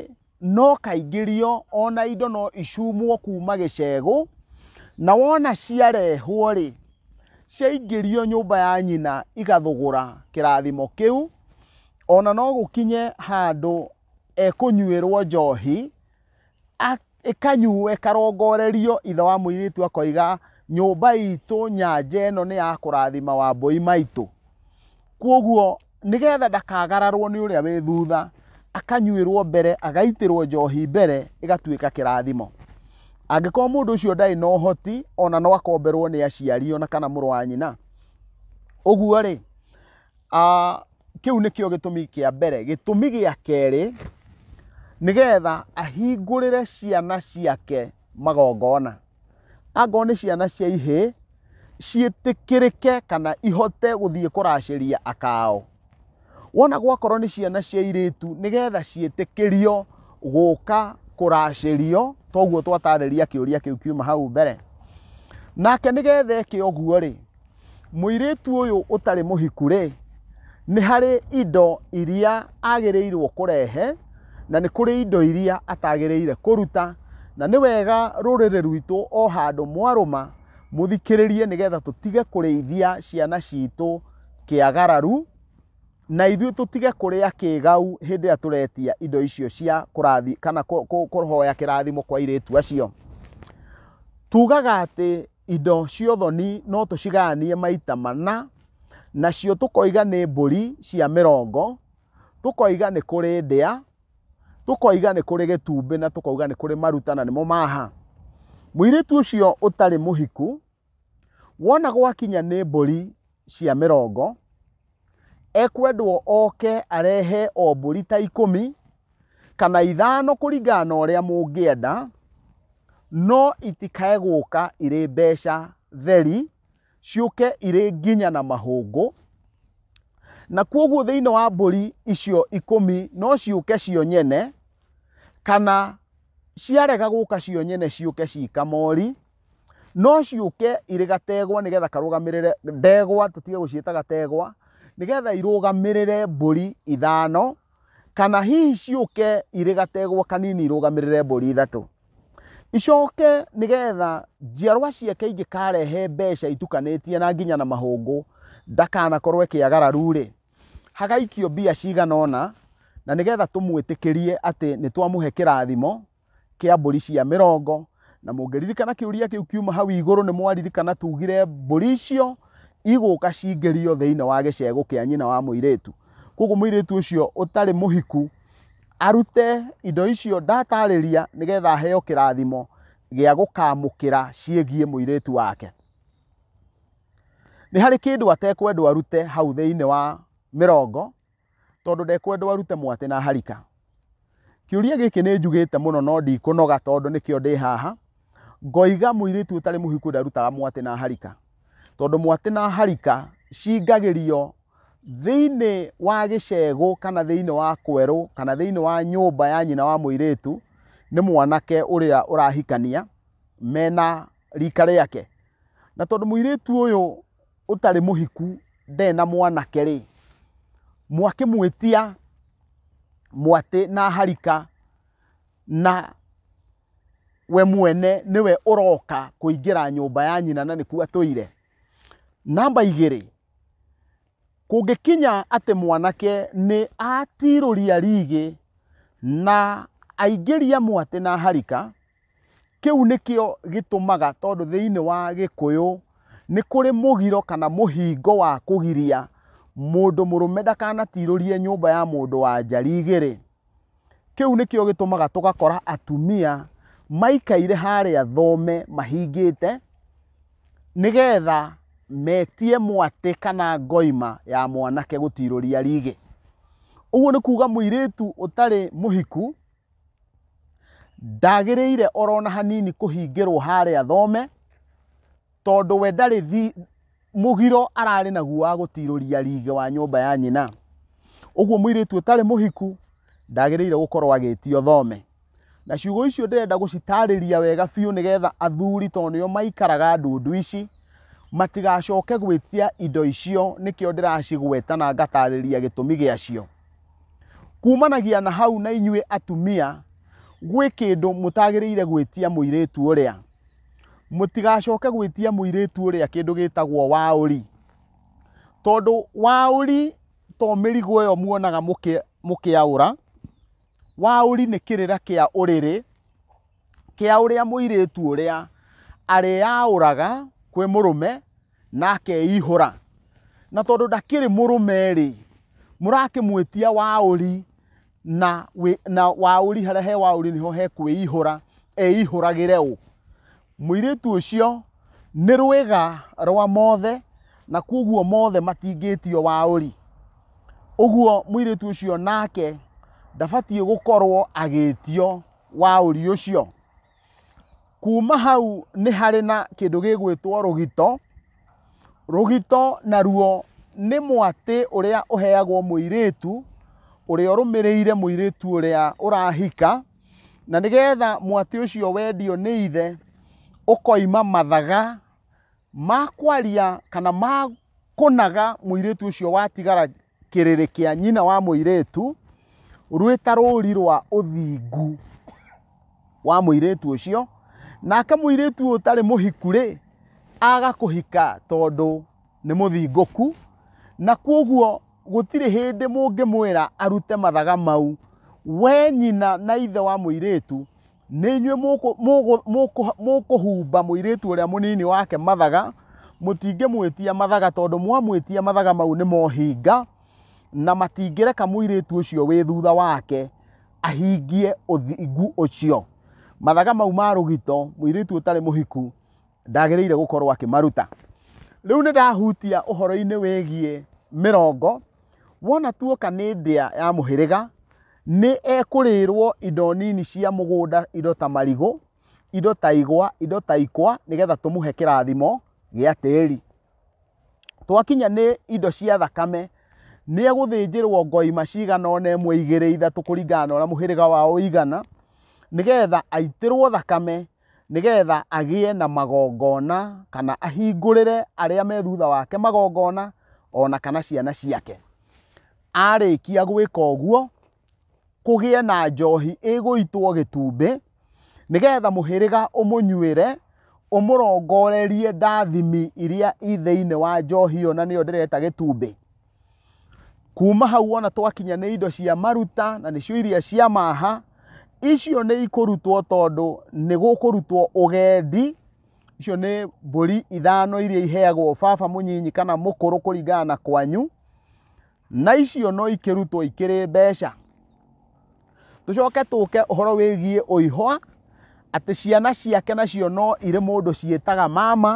[SPEAKER 1] no kaingĩrio o na indo no icumwo kuma gĩcegũ, na wona ciarehwo-rĩ, ciaingĩrio nyũmba ya nyina igathũgũra kĩrathimo kĩu, o na no gũkinye handũ ekũnyuĩrwo njohi, ĩkanyuo, ĩkarongorerio, ithe wa mũirĩtu akoiga, nyũmba itũ, nyanja ĩno nĩ ya kũrathima wambũi maitũ. Kũoguo... nĩgetha ndakagararwo nĩ ũrĩa wĩ thutha akanyuĩrwo mbere agaitĩrwo njohi mbere ĩgatuĩka kĩrathimo angĩkorwo mũndũ ũcio ndarĩ na ũhoti ona no akomberwo nĩ aciari ona kana mũrũ wa nyina ũguo rĩ kĩu nĩkĩo gĩtũmi kĩa mbere gĩtũmi gĩa kerĩ nĩgetha ahingũrĩre ciana ciake magongona angorwo nĩ ciana cia ihĩĩ ciĩtĩkĩrĩke kana ihote gũthiĩ kũracĩria akao wona gwakorwo nĩ ciana cia irĩtu nĩgetha ciĩtĩkĩrio gũka kũracĩrio toguo twatarĩria kĩũria kĩu kiuma hau mbere nake nĩgetha eke ũguo rĩ Mũirĩtu ũyũ ũtarĩ mũhiku rĩ, nĩ harĩ indo iria agĩrĩirwo kũrehe na nĩ kũrĩ indo iria atagĩrĩire kũruta, na nĩ wega rũrĩrĩ rwitũ o handũ mwarũma mũthikĩrĩrie nĩgetha tũtige kũrĩithia ciana citũ kĩagararu, na ithuĩ tũtige kũrĩa kĩgau hĩndĩ ĩrĩa tũretia indo icio cia kũrathi kana kũhoya kĩrathimo kwa airĩtu acio. Tugaga atĩ indo cia ũthoni no tũcigayanie maita mana, nacio tũkoiga nĩ mbũri cia mĩrongo, tũkoiga nĩ kũrĩ ndĩa, tũkoiga nĩ kũrĩ gĩtumbĩ na tũkoiga nĩ kũrĩ maruta na nĩmo maha. Mũirĩtu ũcio ũtarĩ mũhiku wona gwakinya nĩ mbũri cia mĩrongo, ekwendwo oke arehe o mbũri ta ikũmi kana ithano kũringana na ũrĩa mũngĩenda, no itikae gũka irĩ mbeca theri, ciũke irĩ nginya na mahũngũ, na kwoguo thĩinĩ wa mbũri icio ikũmi no ciũke cio nyene, kana ciarega gũka cio nyene ciũke ci kamori. no ciũke irĩ gategwa nĩgetha karũgamĩrĩre ndegwa tũtige gũciĩta gategwa nĩgetha irũgamĩrĩre mbũri ithano kana hihi ciũke irĩ gategwa kanini irũgamĩrĩre mbũri ithatũ icoke nĩgetha njiarwa ciake ingĩkarehe mbeca itukanĩtie na nginya na mahũngũ ndakanakorwo ĩkĩagararu-rĩ hagaikio mbia cigana ũna na nĩgetha tũmwĩtĩkĩrie atĩ nĩ twamũhe kĩrathimo kĩa mbũri cia mĩrongo na mũngĩririkana kĩũria kĩu kiuma hau igũrũ nĩ mwaririkana tugire mbũri icio igũka cingĩrio thĩinĩ wa gĩcegũ kĩa nyina wa mũirĩtu koguo mũirĩtu ũcio ũtarĩ mũhiku arute indo icio ndatarĩria nĩgetha aheo kĩrathimo gĩa gũkamũkĩra ciĩgiĩ mũirĩtu wake nĩ harĩ kĩndũ atekwendwo arute hau thĩinĩ wa mĩrongo tondũ ndekwendwo arute mwatĩ na harika kĩũria gĩkĩ nĩ njugĩte mũno no ndikũnoga tondũ nĩkĩo ndĩ haha ngoiga mũirĩtu ũtarĩ mũhiku ndarutaga mwatĩ na harika tondũ mwatĩ na harika cingagĩrio thĩinĩ wa gĩcegũ kana thĩinĩ wa kwerũ kana thĩinĩ wa nyũmba ya nyina wa mũirĩtu nĩ mwanake ũrĩa ũrahikania mena rika rĩake na tondũ mũirĩtu ũyũ ũtarĩ mũhiku ndarĩ na mwanake rĩ mwakĩmwĩtia mwatĩ na harika na we mwene nĩwe ũroka kũingĩra nyũmba ya nyina na nĩkuo atũire namba igĩrĩ kũngĩkinya atĩ mwanake nĩ atirũria rigĩ na aingĩria mwatĩ na harika Kĩu nĩkĩo gĩtũmaga tondũ thĩinĩ wa gĩkũyũ nĩ kũrĩ mũgiro kana mũhingo wa kũgiria mũndũ mũrũme ndakanatirũrie nyũmba ya mũndũ wa nja rigĩrĩ. Kĩu nĩkĩo gĩtũmaga tũgakora atumia maikaire harĩa thome mahingĩte nĩgetha metie mwatĩ kana ngoima ya mwanake gũtirũria rigi. Ũguo nĩ kuga mũirĩtu ũtarĩ mũhiku ndagĩrĩire orona hanini kũhingĩrwo harĩa thome tondũ we ndarĩ thi mũgiro ararĩ naguo wa gũtirũria rige wa nyũmba ya nyina ũguo mũirĩtu ũtarĩ mũhiku ndagĩrĩire gũkorwo agĩtio thome na ciugo icio ndĩrenda gũcitarĩria wega biũ nĩgetha athuri tondũ nĩo maikaraga ndundu ici matigacoke gwĩtia indo icio nĩkĩo ndĩracigweta na ngatarĩria gĩtũmi gĩacio kumanagia na hau na inyuĩ atumia gwĩ kĩndũ mũtagĩrĩire gwĩtia mũirĩtu ũrĩa mũtigacoke gwĩtia mũirĩtu ũrĩa kĩndũ gĩtagwo waũri tondũ waũri to mĩrigo ĩyo muonaga mũkĩ- mũkĩaũra waũri nĩ kĩrĩra kĩa ũrĩrĩ kĩa ũrĩa mũirĩtu ũrĩa arĩyaũraga kwĩ mũrũme na akeihũra na tondũ ndakĩrĩ mũrũme-rĩ mũrakĩmwĩtia waũri na, wĩ, na waũri harĩa he waũri nĩho he kwĩihũra eihũragĩre ũ mũirĩtu ũcio nĩ rwĩga rwa mothe na kwoguo mothe matingĩtio waũri ũguo mũirĩtu ũcio nake ndabatiĩ gũkorwo agĩtio waũri ũcio kuma hau nĩ harĩ na kĩndũ gĩgwĩtwo rũgito rũgito naruo nĩ mwatĩ ũrĩa ũheagwo mũirĩtu ũrĩa ũrũmĩrĩire mũirĩtu ũrĩa ũrahika na nĩgetha mwatĩ ũcio wendio nĩ ithe ũkoima mathaga ma kwaria kana ma kũnaga mũirĩtu ũcio watigara kĩrĩrĩ kĩa nyina wa mũirĩtu rwĩ ta rũri rwa ũthingu wa mũirĩtu ũcio nake mũirĩtu ũyũ ũtarĩ mũhiku rĩ agakũhika tondũ nĩ mũthingũku na kwoguo gũtirĩ hĩndĩ mũngĩmwĩra arute mathaga mau we nyina na ithe wa mũirĩtu nĩ inyuĩ mũkũ- mũgũ- mũkũ- mũkũhumba mũirĩtu ũrĩa mũnini wake mathaga mũtingĩmwĩtia mathaga tondũ mwamwĩtia mathaga mau nĩ mohinga na matingĩreka mũirĩtu ũcio wĩ thutha wake ahingie ũthingu ũcio mathaga mau ma rũgito mũirĩtu ũtarĩ mũhiku ndagĩrĩire gũkorwo akĩmaruta rĩu nĩ ndahutia ũhoro-inĩ wĩgiĩ mĩrongo wona tuoka nĩ ndĩa ya mũhĩrĩga Nĩ ekũrĩĩrwo indo nini cia mũgũnda, indo ta marigũ, indo ta igwa, indo ta ikwa, nĩgetha tũmũhe kĩrathimo gĩa tĩri. Twakinya nĩ indo cia thakame, nĩ egũthĩnjĩrwo ngoima cigana ona ĩmwe, igĩrĩ, ithatũ kũringana na ũrĩa mũhĩrĩga wao ũigana, nĩgetha aitĩrwo thakame nĩgetha agĩe na magongona kana ahingũrĩre arĩa me thutha wake magongona ona kana ciana ciake arĩkia gwĩka ũguo kũgĩe na njohi ĩgũitwo gĩtumbĩ nĩgetha mũhĩrĩga ũmũnyuĩre ũmũrongorerie ndathimi iria i thĩinĩ wa njohi ĩyo na nĩyo ndĩreta gĩtumbĩ kuma hau wona twakinya nĩ indo cia maruta na nĩcio iria cia maha icio nĩ ikũrutwo tondũ nĩ gũkũrutwo ũgendi icio nĩ mbũri ithano iria iheagwo baba mũnyinyi kana mũkũrũ kũringana na kwanyu na icio no ikĩrutwo ikĩrĩ mbeca tũcoke tũke ũhoro wĩgiĩ ũihwa atĩ ciana ciake nacio no irĩ mũndũ ciĩtaga mama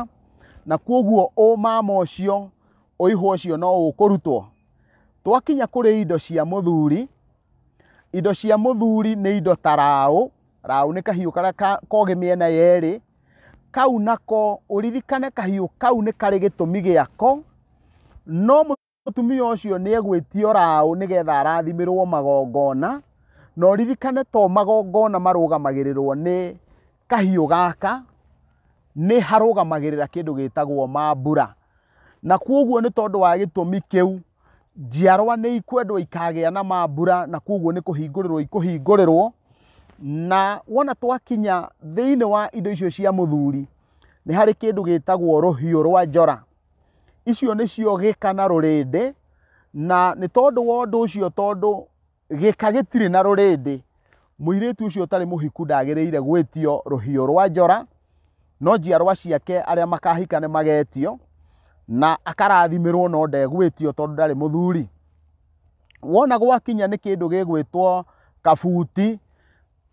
[SPEAKER 1] na kwoguo ũmama ũcio ũihũ ũcio no ũkũrutwo twakinya kũrĩ indo cia mũthuri indo cia mũthuri nĩ indo ta raũ raũ nĩ kahiũ karĩa ka- kogĩ mĩena yerĩ kau nako ũririkane kahiũ kau nĩ karĩ gĩtũmi gĩako no mũtumia ũcio nĩ egwĩtio raũ nĩgetha arathimĩrwo magongona na ũririkane to magongona marũgamagĩrĩrwo nĩ kahiũ gaka nĩ harũgamagĩrĩra kĩndũ gĩtagwo mambura na kwoguo nĩ tondũ wa gĩtũmi kĩu njiarwa nĩ ikwendwo ikagĩa na mambura na kwoguo nĩ kũhingũrĩrwo ikũhingũrĩrwo na wona twakinya thĩinĩ wa indo icio cia mũthuri nĩ harĩ kĩndũ gĩtagwo rũhiũ rwa njora icio nĩcio gĩka na rũrĩndĩ na nĩ tondũ wa ũndũ ũcio tondũ gĩka gĩtirĩ na rũrĩndĩ mũirĩtu ũcio ũtarĩ mũhiku ndagĩrĩire gwĩtio rũhiũ rwa njora no njiarwa ciake arĩa makahika nĩ magetio na akarathimĩrwo no ndegwĩtio tondũ ndarĩ mũthuri wona gwakinya nĩ kĩndũ gĩgwĩtwo kabuti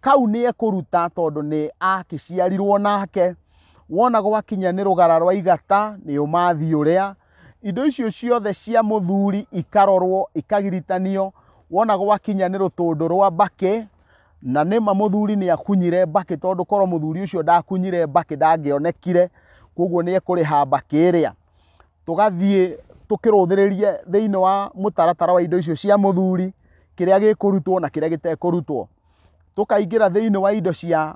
[SPEAKER 1] kau nĩ ekũruta tondũ nĩ akĩciarirwo nake wona gwakinya nĩ rũgara rwa igata nĩ ũmathi ũrĩa indo icio ciothe cia mũthuri ikarorwo ikagiritanio wona gwakinya nĩ rũtũndũ rwa mbakĩ na nĩma mũthuri nĩ akunyire mbakĩ tondũ korwo mũthuri ũcio ndakunyire mbakĩ ndangĩonekire koguo nĩ ekũrĩha mbakĩ ĩrĩa tũgathiĩ tũkĩrũthĩrĩrie thĩinĩ wa mũtaratara wa indo icio cia mũthuri kĩrĩa gĩkũrutwo na kĩrĩa gĩtekũrutwo. Tũkaingĩra thĩinĩ wa indo cia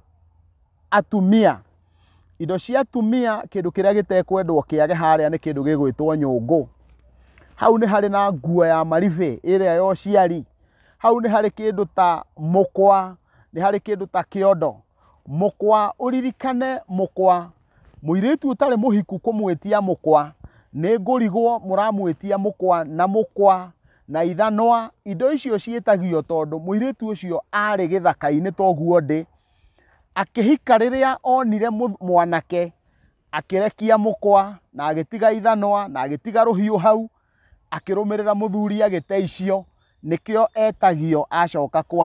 [SPEAKER 1] atumia, indo cia atumia kĩndũ kĩrĩa gĩtekwendwo kĩage harĩa nĩ kĩndũ gĩgwĩtwo nyũngũ. Hau nĩ harĩ na nguo ya maribĩ ĩrĩa ya ũciari, hau nĩ harĩ kĩndũ ta mũkwa, nĩ harĩ kĩndũ ta kĩondo, mũkwa ũririkane mũkwa mũirĩtu ũtarĩ mũhiku kũmwĩtia mũkwa nĩ ngũrigwo mũramwĩtia mũkwa na mũkwa na ithanwa indo icio ciĩtagio tondũ mũirĩtu ũcio arĩ gĩthaka-inĩ toguo ndĩ akĩhika rĩrĩa onire mũ- mwanake akĩrekia mũkwa na agĩtiga ithanwa na agĩtiga rũhiũ hau akĩrũmĩrĩra mũthuri agĩte icio nĩkĩo etagio acoka kwa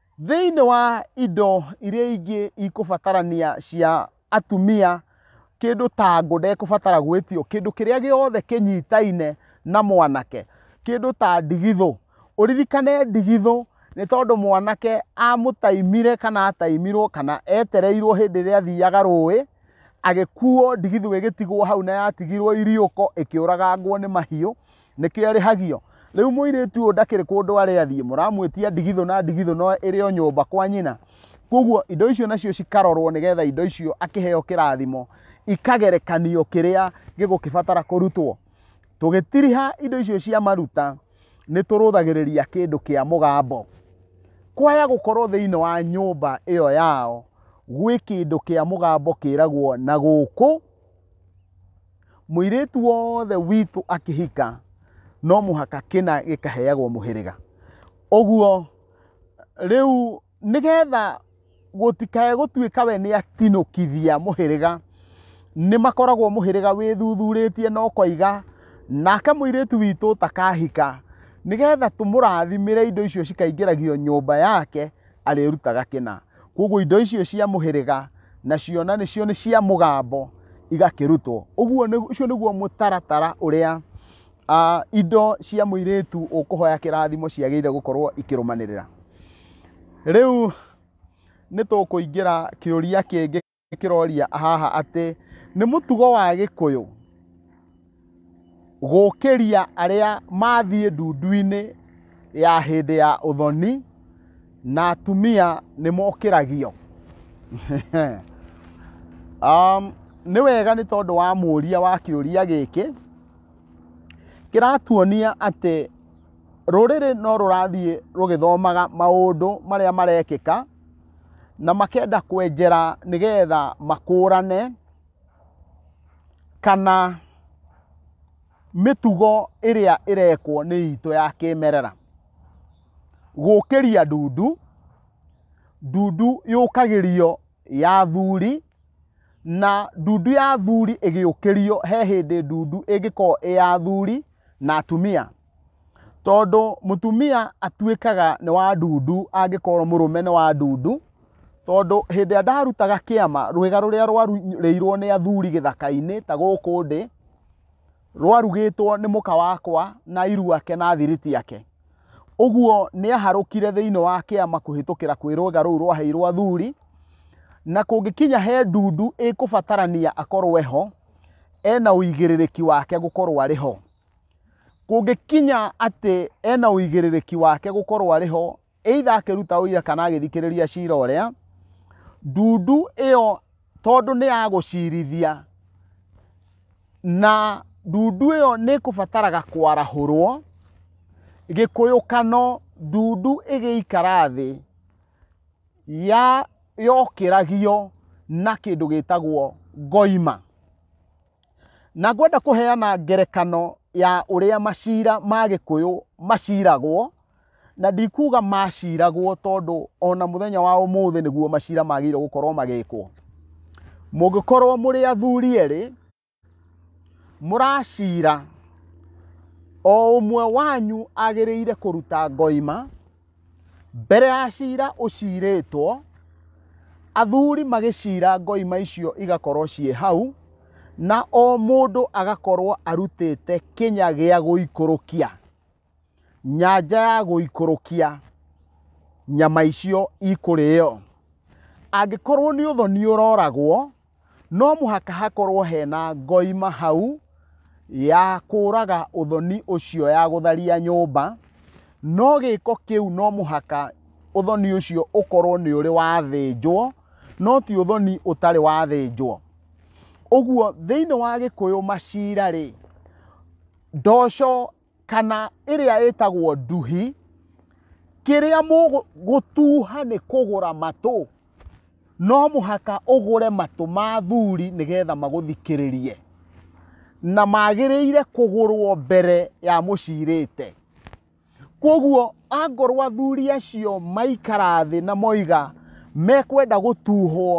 [SPEAKER 1] Thĩinĩ wa indo iria ingĩ ikũbatarania cia atumia, kĩndũ ta ngũ ndekũbatara gwĩtio, kĩndũ kĩrĩa gĩothe kĩnyitaine na mwanake, kĩndũ ta ndigithũ. Ũririkane ndigithũ nĩ tondũ mwanake amũtaimire kana ataimirwo kana etereirwo hĩndĩ ĩrĩa athiaga rũĩ, agĩkuo ndigithũ ĩgĩtigwo hau na yatigirwo iriũko ĩkĩũragangwo nĩ mahiũ, nĩkĩo arĩhagio rĩu mũirĩtu ũyũ ndakĩrĩ kũndũ arĩa thiĩ mũramwĩtia ndigithũ na ndigithũ no ĩrĩ o nyũmba kwa nyina koguo indo icio nacio cikarorwo nĩgetha indo icio akĩheo kĩrathimo ikagerekanio kĩrĩa gĩgũkĩbatara kũrutwo tũgĩtiriha indo icio cia maruta nĩ tũrũthagĩrĩria kĩndũ kĩa mũgambo kwaya gũkorwo thĩinĩ wa nyũmba ĩyo yao gwĩ kĩndũ kĩa mũgambo kĩragwo na gũkũ mũirĩtu wothe witũ akĩhika no mũhaka kĩna gĩkaheagwo mũhĩrĩga ũguo rĩu nĩgetha gũtikae gũtuĩka we nĩ atinũkithia mũhĩrĩga nĩ makoragwo mũhĩrĩga wĩthuthurĩtie no koiga nake mũirĩtu witũ ũtakahika nĩgetha tũmũrathimĩre indo icio cikaingĩragio nyũmba yake arĩrutaga kĩna koguo indo icio cia mũhĩrĩga nacio na nĩcio nĩ cia mũgambo igakĩrutwo ũguo nĩ- ũcio nĩguo mũtaratara ũrĩa ah, indo cia mũirĩtu ũkũhoya kĩrathimo ciagĩrĩire gũkorwo ikĩrũmanĩrĩra rĩu nĩ tũkũingĩra kĩũria kĩngĩ kĩroria haha atĩ nĩ mũtugo wa gĩkũyũ gũkĩria arĩa mathiĩ ndundu-inĩ ya hĩndĩ ya ũthoni na atumia nĩ mokĩragio um, nĩ wega nĩ tondũ wa mũria wa kĩũria gĩkĩ kĩratuonia atĩ rũrĩrĩ no rũrathiĩ rũgĩthomaga maũndũ marĩa marekĩka na makenda kwenjera nĩgetha makũrane kana mĩtugo ĩrĩa ĩrekwo nĩ itũ ya kĩmerera gũkĩria ndundu ndundu yũkagĩrio ya thuri na ndundu ya thuri ĩgĩũkĩrio he hĩndĩ ndundu ĩngĩkorwo ĩ ya thuri na atumia Tondũ mũtumia atuĩkaga nĩ wa ndundu angĩkorwo mũrũme nĩ wa ndundu, tondũ hĩndĩ ĩrĩa ndarutaga kĩama, rwĩga rũrĩa rwarurĩirwo nĩ athuri gĩthaka-inĩ ta gũkũ ndĩ, rwarugĩtwo nĩ mũka wakwa na iru ake na thiriti yake. Ũguo nĩ aharũkire thĩinĩ wa kĩama kũhĩtũkĩra kwĩ rwĩga rũu rwaheirwo athuri, na kũngĩkinya he ndundu ĩkũbatarania akorwo eho, ena ũigĩrĩrĩki wake gũkorwo arĩ ho. kũngĩkinya atĩ ena ũigĩrĩrĩki wake gũkorwo arĩ ho either akĩruta ũira kana agĩthikĩrĩria cira ũrĩa ndundu ĩyo tondũ nĩ ya gũcirithia na ndundu ĩyo nĩ kũbataraga kwarahũrwo gĩkũyũkano ndundu ĩgĩikara thĩ ya yokĩragio na kĩndũ gĩtagwo ngoima Na ngwenda kũheana ngerekano ya ũrĩa maciira ma gĩkũyũ maciragwo, na ndikuga maciragwo tondũ ona mũthenya wa ũmũthĩ nĩguo maciira magĩrĩirwo gũkorwo magĩkwo. Mũngĩkorwo mũrĩ athuri erĩ, mũracira, o ũmwe wanyu agĩrĩire kũruta ngoima, Mbere ya cira ũcirĩtwo, athuri magĩcira ngoima icio igakorwo ciĩ hau, na o mũndũ agakorwo arutĩte kĩnya gĩa gũikũrũkia, nyanja ya gũikũrũkia nyama icio ikũrĩo. Angĩkorwo nĩ ũthoni ũroragwo, no mũhaka hakorwo hena ngoima hau ya kũraga ũthoni ũcio ya gũtharia nyũmba no gĩko kĩu no mũhaka ũthoni ũcio ũkorwo nĩ ũrĩ wathĩnjwo no ti ũthoni ũtarĩ wathĩnjwo ũguo thĩinĩ wa gĩkũyũ macira rĩ ndoco kana ĩrĩa ĩtagwo nduhi kĩrĩa mũgũtuha nĩ kũgũra matũ no mũhaka ũgũre matũ ma athuri nĩgetha magũthikĩrĩrie na magĩrĩire kũgũrwo mbere ya mũcirĩte kwoguo angorwo athuri acio maikara thĩ na moiga mekwenda gũtuhwo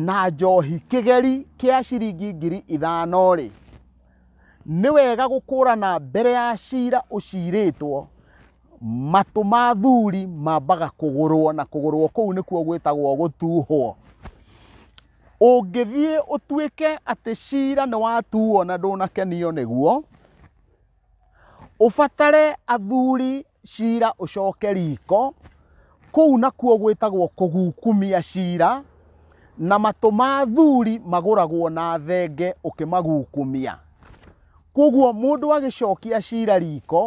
[SPEAKER 1] na njohi kĩgeri kĩa ciringi ngiri ithano rĩ nĩ wega gũkũrana mbere ya cira ũcirĩtwo matũ ma thuri mambaga kũgũrwo na kũgũrwo kũu nĩkuo gwĩtagwo gũtuhwo ũngĩthiĩ ũtuĩke atĩ cira nĩ watuo na ndũnakenio nĩguo ũbatare athuri cira ũcoke riko kũu nakuo gwĩtagwo kũgukumia cira na matũ ma thuri magũragwo na thenge ũkĩmagukumia koguo mũndũ agĩcokia cira riko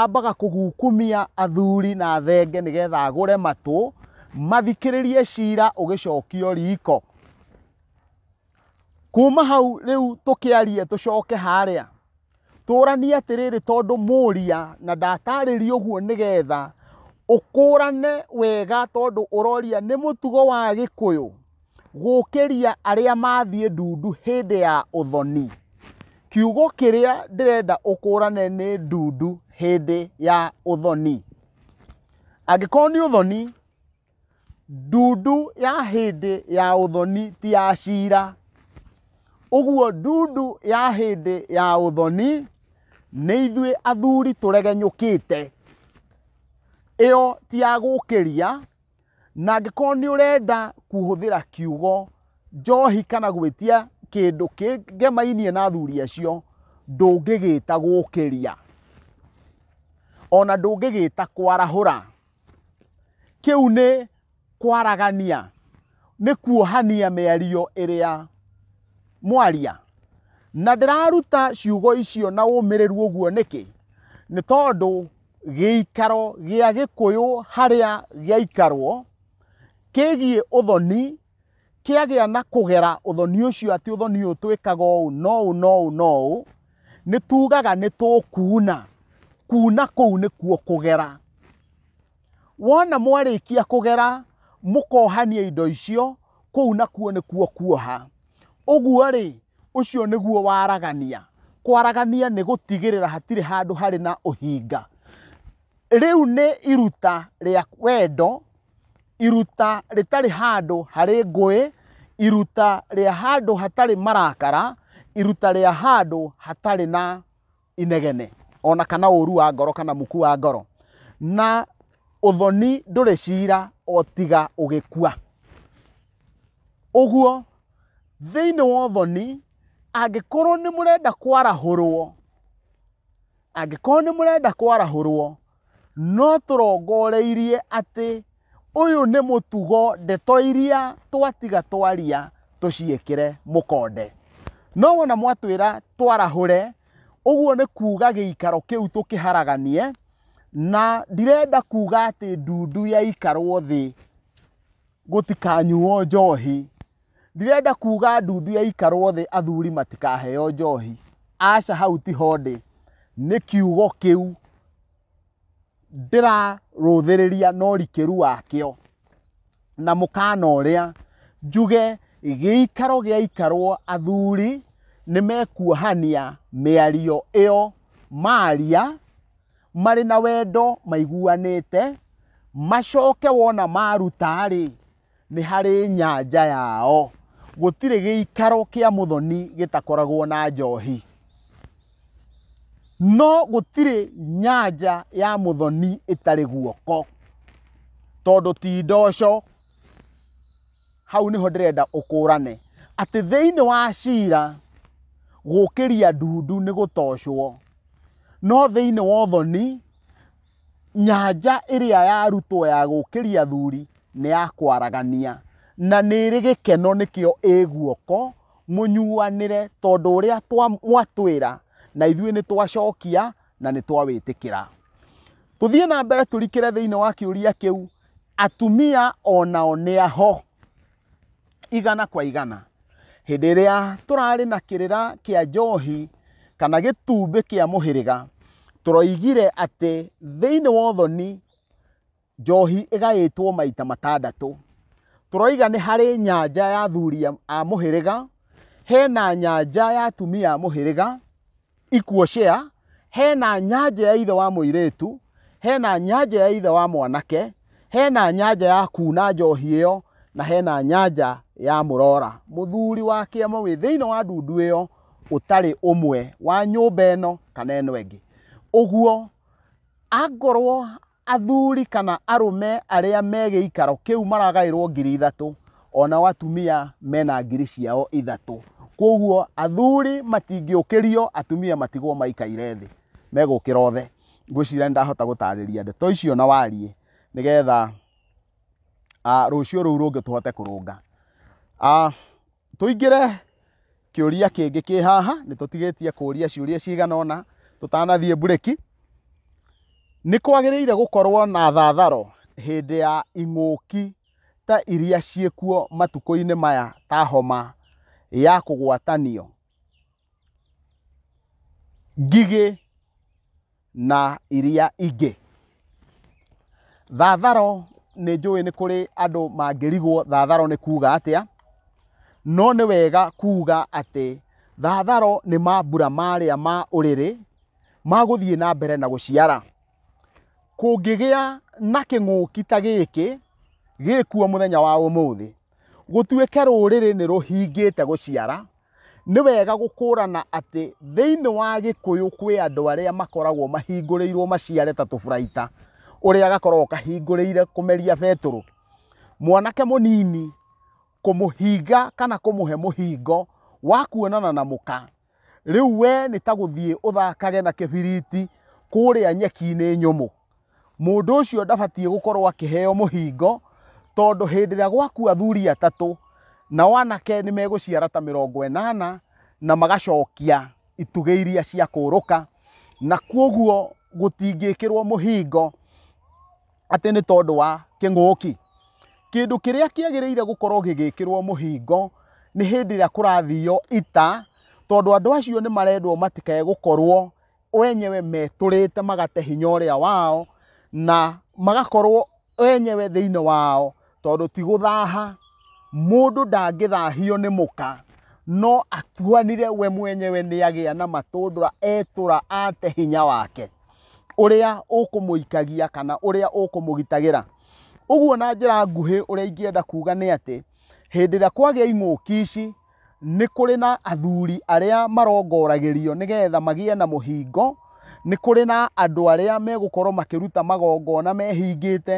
[SPEAKER 1] ambaga kũgukumia athuri na thenge nĩgetha agũre matũ mathikĩrĩrie cira ũgĩcokio riko kuma hau rĩu tũkĩarie tũcoke harĩa tũranie atĩrĩrĩ tondũ mũria na ndatarĩria ũguo nĩgetha ũkũrane wega tondũ ũroria nĩ mũtugo wa gĩkũyũ gũkĩria arĩa mathiĩ ndundu hĩndĩ ya ũthoni kiugo kĩrĩa ndĩrenda ũkũrane nĩ ndundu hĩndĩ ya ũthoni angĩkorwo nĩ ũthoni Ndundu ya hĩndĩ ya ũthoni ti ya cira, ũguo ndundu ya hĩndĩ ya ũthoni nĩ ithuĩ athuri tũregenyũkĩte. Ĩyo ti ya gũkĩria, na angĩkorwo nĩ ũrenda kũhũthĩra kiugo njohi kana gwĩtia kĩndũ kĩngemainie na athuri acio, ndũngĩgĩta gũkĩria, ona ndũngĩgĩta kwarahũra. Kĩu nĩ kwaragania, nĩ kuohania mĩario ĩrĩa mwaria. Na ndĩraruta ciugo icio na ũmĩrĩru ũguo nĩkĩ? Nĩ tondũ gĩikaro gĩa gĩkũyũ harĩa gĩaikarwo kĩgiĩ ũthoni. kĩagĩa na kũgera ũthoni ũcio atĩ ũthoni ũyũ twĩkaga ũũ no ũũ no ũũ no ũũ nĩ tugaga nĩ tũkuuna kuuna kũu nĩkuo kũgera wona mwarĩkia kũgera mũkohania indo icio kũu nakuo nĩkuo kuoha ũguo rĩ ũcio nĩguo waragania kwaragania nĩ gũtigĩrĩra hatirĩ handũ harĩ na ũhinga rĩu nĩ iruta rĩa wendo iruta rĩtarĩ handũ harĩ ngũĩ iruta rĩa handũ hatarĩ marakara iruta rĩa handũ hatarĩ na inegene ona kana ũru wa ngoro kana muku wa ngoro na ũthoni ndũrĩ cira o tiga ũgĩkua ũguo thĩinĩ wa ũthoni angĩkorwo nĩ mũrenda kwarahũrwo angĩkorwo nĩ mũrenda kwarahũrwo no tũrongoreirie atĩ ũyũ nĩ mũtugo ndeto iria twatiga twaria tũciĩkĩre mũkonde no wona mwatwĩra twarahũre ũguo nĩ kuga gĩikaro kĩu tũkĩharaganie na ndirenda kuga atĩ ndundu yaikarwo thĩ gũtikanyuo njohi. Ndirenda kuga ndundu ya ikarwo thĩ athuri matikaheo njohi. Aca hau ti hondĩ. Nĩ kiugo kĩu ndĩrarũthĩrĩria na ũrikĩru wakĩo na mũkana ũrĩa njuge gĩikaro gĩa ikarwo athuri nĩ mekuohania mĩario ĩyo maria marĩ na wendo maiguanĩte macoke wona maruta-rĩ nĩ harĩ nyanja yao gũtirĩ gĩikaro kĩa mũthoni gĩtakoragwo na njohi no gũtirĩ nyanja ya mũthoni ĩtarĩ guoko tondũ ti ndoco hau nĩho ndĩrenda ũkũrane atĩ thĩinĩ wa cira gũkĩria ndundu nĩ gũtocwo no thĩinĩ wa ũthoni nyanja ĩrĩa yarutwo ya gũkĩria thuri nĩ ya kwaragania na nĩ ĩrĩ gĩkeno nĩkĩo ĩ guoko mũnyuanĩre tondũ ũrĩa twa- mwatwĩra na ithuĩ nĩ twacokia na nĩ twawĩtĩkĩra tũthiĩ na mbere tũrikĩre thĩinĩ wa kĩũria kĩu atumia onao nĩ aho igana kwa igana hĩndĩ ĩrĩa tũrarĩ na kĩrĩra kĩa njohi kana gĩtumbĩ kĩa mũhĩrĩga tũroigire atĩ thĩinĩ wa ũthoni njohi ĩgaĩtwo maita matandatũ tũroiga nĩ harĩ nyanja ya athuri a mũhĩrĩga hena nyanja ya atumia a mũhĩrĩga ikuo share hena nyanja ya ithe wa muiretu hena nyanja ya ithe wa mwanake hena nyanja ya kuna njohi iyo na hena nyanja ya murora muthuri wa kiama wi thiini wa ndundu iyo utari umwe wa nyumba ino kana ino ingi uguo angorwo Athuri kana arũme arĩa me gĩikaro kĩu maragaĩrwo ngiri ithatũ, o nao atumia mena ngiri ciao ithatũ. Kwoguo athuri matingĩũkĩrio, atumia matigwo maikaire thĩ, megũkĩra othe. Ngwĩciria nĩ ndahota gũtarĩria ndeto icio na wariĩ nĩ getha rũciũ rũu rũngĩ tũhote kũrũnga. tũingĩre kĩũria kĩngĩ kĩ haha nĩ tũtigĩtie kũria ciũria cigana ũna tũtanathiĩ mbureki nĩ kwagĩrĩire gũkorwo na thatharo hĩndĩ ya ing'ũki ta iria ciĩkuo matukũ-inĩ maya ta homa ya kũgwatanio. Ngigĩ na iria ingĩ. Thatharo nĩ njũĩ nĩ kũrĩ andũ mangĩrigwo thatharo nĩ kuga atĩa, no nĩ wega kuga atĩ thatharo nĩ mambura marĩa ma ũrĩrĩ ma gũthiĩ na mbere na gũciara. Kũngĩgĩa na kĩng'ũki ta gĩkĩ gĩkuo mũthenya wa ũmũthĩ, gũtuĩke rũrĩrĩ nĩ rũhingĩte gũciara, Nĩ wega gũkũrana atĩ thĩinĩ wa Gĩkũyũ kwĩ andũ arĩa makoragwo mahingũrĩirwo maciare ta tũburaita, ũrĩa gakoragwo kahingũrĩire kũmeria betũrũ. Mwanake mũnini kũmũhinga kana kũmũhe mũhingo wa kuonana na mũka, rĩu we nĩ ta gũthiĩ ũthakage na kĩbiriti kũrĩa nyeki-inĩ nyũmũ. mũndũ ũcio ndabatiĩ gũkorwo akĩheo mũhingo tondũ hĩndĩ ĩrĩa gwakua athuri atatũ nao anake nĩ megũciara ta mĩrongo ĩnana na magacokia itugĩ iria cia kũrũka na kwoguo gũtingĩkĩrwo mũhingo atĩ nĩ tondũ wa kĩng'ũki. Kĩndũ kĩrĩa kĩagĩrĩire gũkorwo gĩgĩkĩrwo mũhingo nĩ hĩndĩ ĩrĩa kũrathio ita tondũ andũ acio nĩ marendwo matikae gũkorwo wenyewe metũrĩte magate hinya ũrĩa wao na magakorwo wenyewe thĩinĩ wao tondũ ti gũthaha mũndũ ndangĩthahio nĩ mũka no atuanire we mwenyewe nĩ agĩa na matũndũra etũra ate hinya wake ũrĩa ũkũmũikagia kana ũrĩa ũkũmũgitagĩra ũguo na njĩra nguhĩ ũrĩa ingĩenda kuga nĩ atĩ hĩndĩ ĩrĩa kwagĩa ing'ũki ici nĩ kũrĩ na athuri arĩa marongoragĩrio nĩgetha magĩe na mũhingo, nĩ kũrĩ na andũ arĩa megũkorwo makĩruta magongona mehingĩte,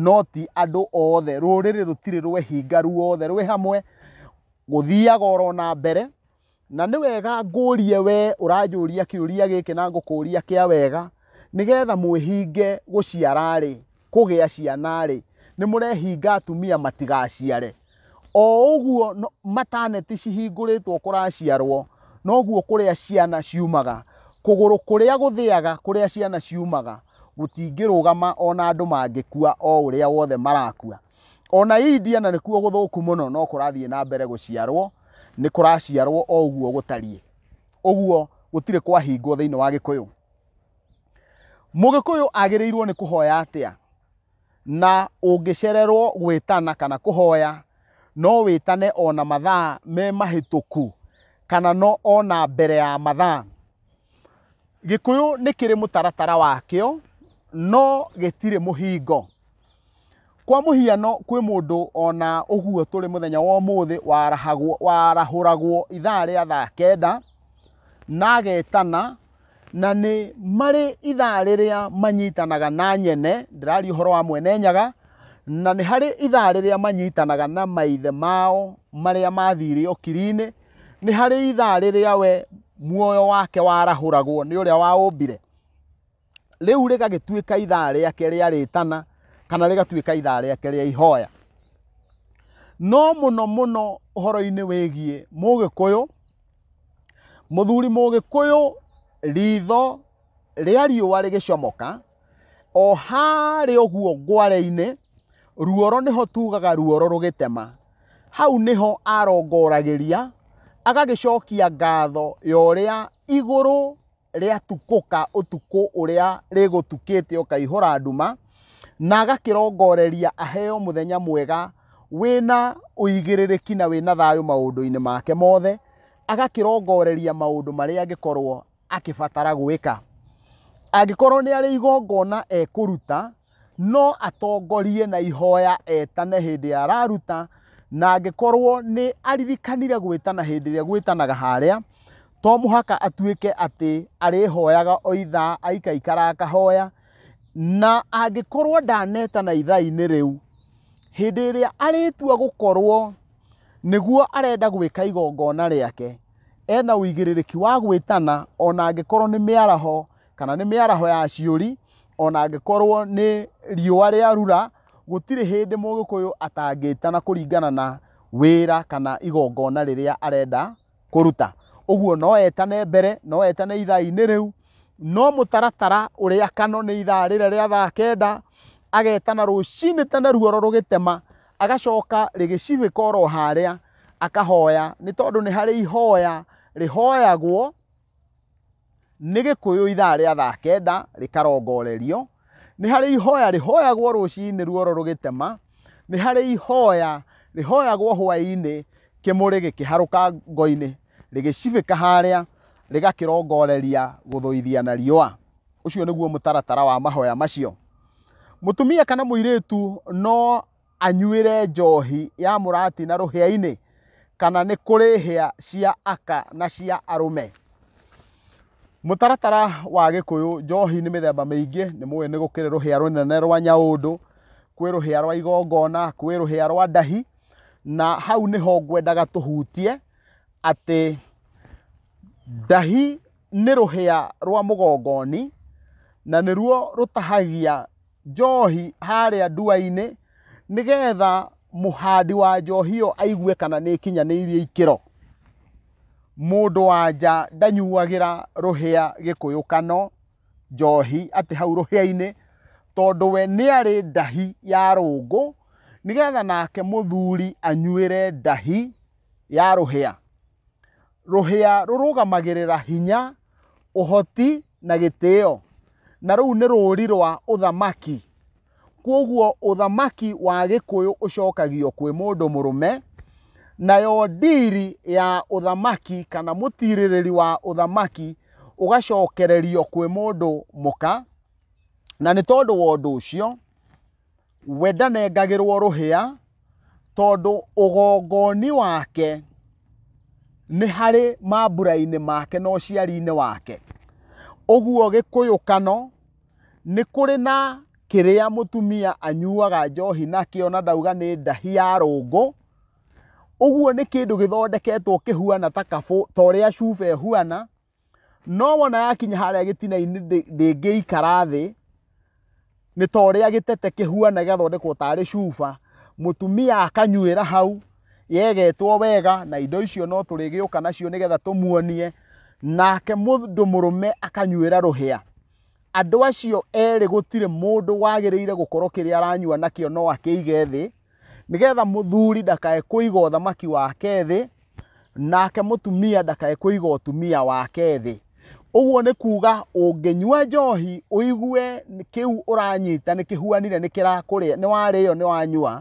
[SPEAKER 1] no ti andũ othe. Rũrĩrĩ rũtirĩ rwehinga ruothe rwĩ hamwe, gũthiaga oro na mbere. Na nĩ wega ngũrie we ũranjũria kĩũria gĩkĩ na ngũkũria kĩa wega, nĩgetha mwĩhinge gũciara-rĩ, kũgĩa ciana-rĩ, nĩ mũrehinga atumia matigaciare? o ũguo no- mataneti cihingũrĩtwo kũraciarwo noguo kũrĩa ciana ciumaga kũgũrũ kũrĩa gũthĩaga kũrĩa ciana ciumaga gũtingĩrũgama ona andũ mangĩkua o ũrĩa wothe marakua ona india na nĩkuo gũthũku mũno no kũrathiĩ na mbere gũciarwo nĩ kũraciarwo o ũguo gũtariĩ ũguo gũtirĩ kwahingwo thĩinĩ wa gĩkũyũ mũgĩkũyũ agĩrĩirwo nĩ kũhoya atĩa na ũngĩcererwo gwĩtana kana kũhoya no wĩtane o na mathaa me mahĩtũku kana no o na mbere ya mathaa. Gĩkũyũ nĩ kĩrĩ mũtaratara wakĩo no gĩtirĩ mũhingo. Kwa mũhiano kwĩ mũndũ o na ũguo tũrĩ mũthenya wa ũmũthĩ warahagwo warahũragwo ithaa rĩa thaa kenda na agetana. na nĩ marĩ ithaa rĩrĩa manyitanaga na nyene ndĩraria ũhoro wa mwene nyaga na nĩ harĩ ithaa rĩrĩa manyitanaga na maithe mao marĩa mathire ũkiri-inĩ nĩ harĩ ithaa rĩrĩa we muoyo wake warahũragwo nĩ ũrĩa waũmbire rĩu rĩgagĩtuĩka ithaa rĩake rĩa rĩtana kana rĩgatuĩka ithaa rĩake rĩa ihoya no mũno mũno ũhoro-inĩ wĩgiĩ mũgĩkũyũ mũthuri mũgĩkũyũ ritho rĩa riũa rĩgĩcomoka o harĩ ũguo ngware-inĩ ruoro nĩho tugaga ruoro rũgĩtema hau nĩho arongoragĩria agagĩcokia ngatho ya ũrĩa igũrũ rĩatukũka ũtukũ ũrĩa rĩgũtukĩte ũkaihũra nduma na agakĩrongoreria aheo mũthenya mwega wĩna ũigĩrĩrĩki na wĩna thayũ maũndũ-inĩ make mothe agakĩrongoreria maũndũ marĩa angĩkorwo akĩbatara gwĩka angĩkorwo nĩ arĩ igongona ekũruta no atongorie na ihoya etane hĩndĩ ya araruta na angĩkorwo nĩ aririkanire gwĩtana hĩndĩ ĩrĩa gwĩtanaga harĩa to mũhaka atuĩke atĩ arĩhoyaga o ithaa aikaikara akahoya na angĩkorwo ndanetana ithaa-inĩ rĩu hĩndĩ ĩrĩa arĩtua gũkorwo nĩguo arenda gwĩka igongona rĩake ena ũigĩrĩrĩki wa gwĩtana ona angĩkorwo nĩ mĩaraho kana nĩ mĩaraho ya ciũri ona angĩkorwo nĩ riũa rĩarura gũtirĩ hĩndĩ mũgĩkũyũ atangĩta na kũringana na wĩra kana igongona rĩrĩa arenda kũruta ũguo no etane mbere no etane ithaa-inĩ rĩu no mũtaratara ũrĩa kano nĩ ithaa rĩrĩa rĩa thaa kenda agetana rũcinĩ tene ruoro rũgĩtema agacoka rĩgĩcibĩka oro harĩa akahoya nĩ tondũ nĩ harĩ ihoya rĩhoyagwo Nĩ Gĩkũyũ ithaa rĩa thaa kenda rĩkarongorerio, nĩ harĩ ihoya rĩhoyagwo rũcinĩ ruoro rũgĩtema, nĩ harĩ ihoya rĩhoyagwo hwaĩ-inĩ kĩmũrĩ gĩkĩharũka ngo-inĩ, rĩgĩcibĩka harĩa rĩgakĩrongoreria gũthũithia na riũa. Ũcio nĩguo mũtaratara wa mahoya macio. Mũtumia kana mũirĩtu no anyuĩre njohi ya mũrati na rũhĩa-inĩ, kana nĩ kũrĩ hĩa cia aka na cia arũme. Mũtaratara wa Gĩkũyũ, njohi nĩ mĩthemba mĩingĩ, nĩ mũĩ nĩ gũkĩrĩ rũhĩa rũnene rwa nyaũndũ, kwĩ rũhĩa rwa igongona, kwĩ rũhĩa rwa ndahi, na hau nĩho ngwendaga tũhutie atĩ ndahi nĩ rũhĩa rwa mũgongoni na nĩruo rũtahagia njohi harĩa ndua-inĩ nĩgetha mũhandi wa njohi ĩyo aigue kana nĩ ĩkinyanĩirie ikĩro mũndũ wanja ndanyuagĩra rũhĩa gĩkũyũ kano njohi atĩ hau rũhĩa-inĩ tondũ we nĩ arĩ ndahi ya rũngũ nĩgetha nake mũthuri anyuĩre ndahi ya rũhĩa rũhĩa rũrũgamagĩrĩra hinya ũhoti na gĩtĩo na rũu nĩ rũũri rwa ũthamaki kwoguo ũthamaki wa gĩkũyũ ũcokagio kwĩ mũndũ mũrũme nayo ndiri ya ũthamaki kana mũtirĩrĩri wa ũthamaki ũgacokererio kwĩ mũndũ mũka na nĩ tondũ wa ũndũ ũcio we ndanengagĩrwo rũhĩa tondũ ũgongoni wake nĩ harĩ mambura-inĩ make na ũciari-inĩ wake ũguo gĩkũyũkano nĩ kũrĩ na kĩrĩa mũtumia anyuaga njohi nakĩo na ndauga nĩ ndahi ya rũngũ ũguo nĩ kĩndũ gĩthondeketwo kĩhuana ta kabũ ta ũrĩa cuba ĩhuana no wona yakinya harĩa gĩtina-inĩ ndĩngĩikara thĩ nĩ ta ũrĩa gĩtete kĩhuana gĩgathondekwo tarĩ cuba mũtumia akanyuĩra hau yegetwo wega na indo icio no tũrĩgĩũka nacio nĩgetha tũmuonie nake mũndũ mũrũme akanyuĩra rũhĩa andũ acio erĩ gũtirĩ mũndũ wagĩrĩire gũkorwo kĩrĩa aranyua nakĩo no akĩige thĩ nĩgetha mũthuri ndakae kũiga ũthamaki wake thĩ nake mũtumia ndakae kũiga ũtumia wake thĩ ũguo nĩ kuuga ũngĩnyua njohi ũigue nĩ- kĩu ũranyita nĩ kĩhuanire nĩ kĩrakũrĩa nĩ warĩo nĩ wanyua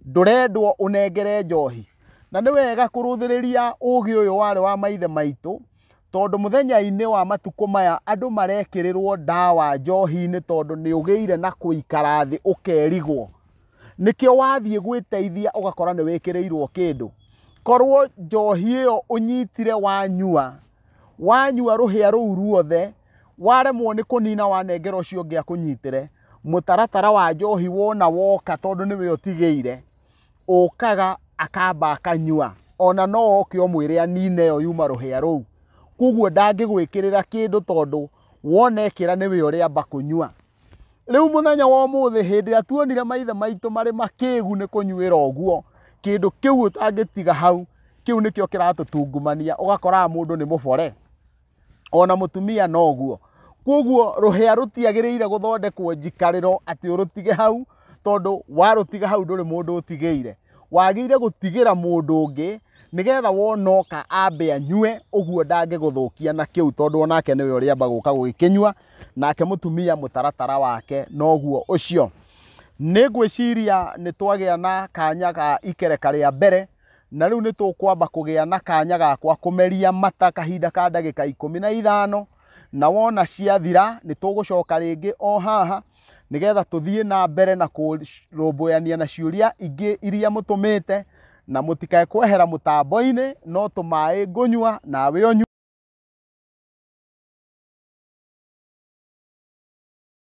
[SPEAKER 1] ndũrendwo ũnengere njohi na nĩ wega kũrũthĩrĩria ũũgĩ ũyũ warĩ wa maithe maitũ Tondũ mũthenya-inĩ wa matukũ maya andũ marekĩrĩrwo ndawa njohi-inĩ tondũ nĩ ũgĩire na kũikara thĩ ũkerigwo. Nĩkĩo wathiĩ gwĩteithia ũgakora nĩ wĩkĩrĩirwo kĩndũ. Korwo njohi ĩyo ũnyitire wanyua, wanyua rũhĩa rũu ruothe, waremwo nĩ kũnina wanengera ũcio ũngĩ akũnyitĩre, mũtaratara wa njohi wona woka tondũ nĩwe ũtigĩire, ũkaga akamba akanyua ona no oke ũmwĩre anine ĩyo yuma rũhĩa rũu koguo ndangĩgwĩkĩrĩra kĩndũ tondũ wona ekĩra nĩwe ũrĩamba kũnyua rĩu mũthenya wa ũmũthĩ hĩndĩ ĩrĩa tuonire maithe maitũ marĩ makĩgu nĩ kũnyuĩra ũguo kĩndũ kĩu ũtangĩtiga hau kĩu nĩkĩo kĩratũtungumania ũgakoraga mũndũ nĩ mũbore ona mutumia noguo koguo ruhia rutiagirire guthondekwo njikariro ati urutige hau tondu warutiga hau nduri mundu utigeire wagire gutigira mundu ungi nigetha wonoka ambe anyue uguo ndangiguthukia na kiu tondu onake niwe uriamba guka gugikinyua nake mutumia mutaratara wake noguo ucio nä ngwä ciria nä twagä a na kanya ga ikereka rä a mbere Na rĩu nĩ tũkwamba kũgĩa na kanya gakwa kũmeria mata kahinda ka ndagĩka ikũmi na ithano na wona ciathira nĩ tũgũcoka rĩngĩ o haha nĩgetha tũthiĩ na mbere na kũrũmbũyania na ciũria ingĩ iria mũtũmĩte na mũtikae kwehera mũtambo-inĩ no tũmaĩ ngũnyua nawe ũnyue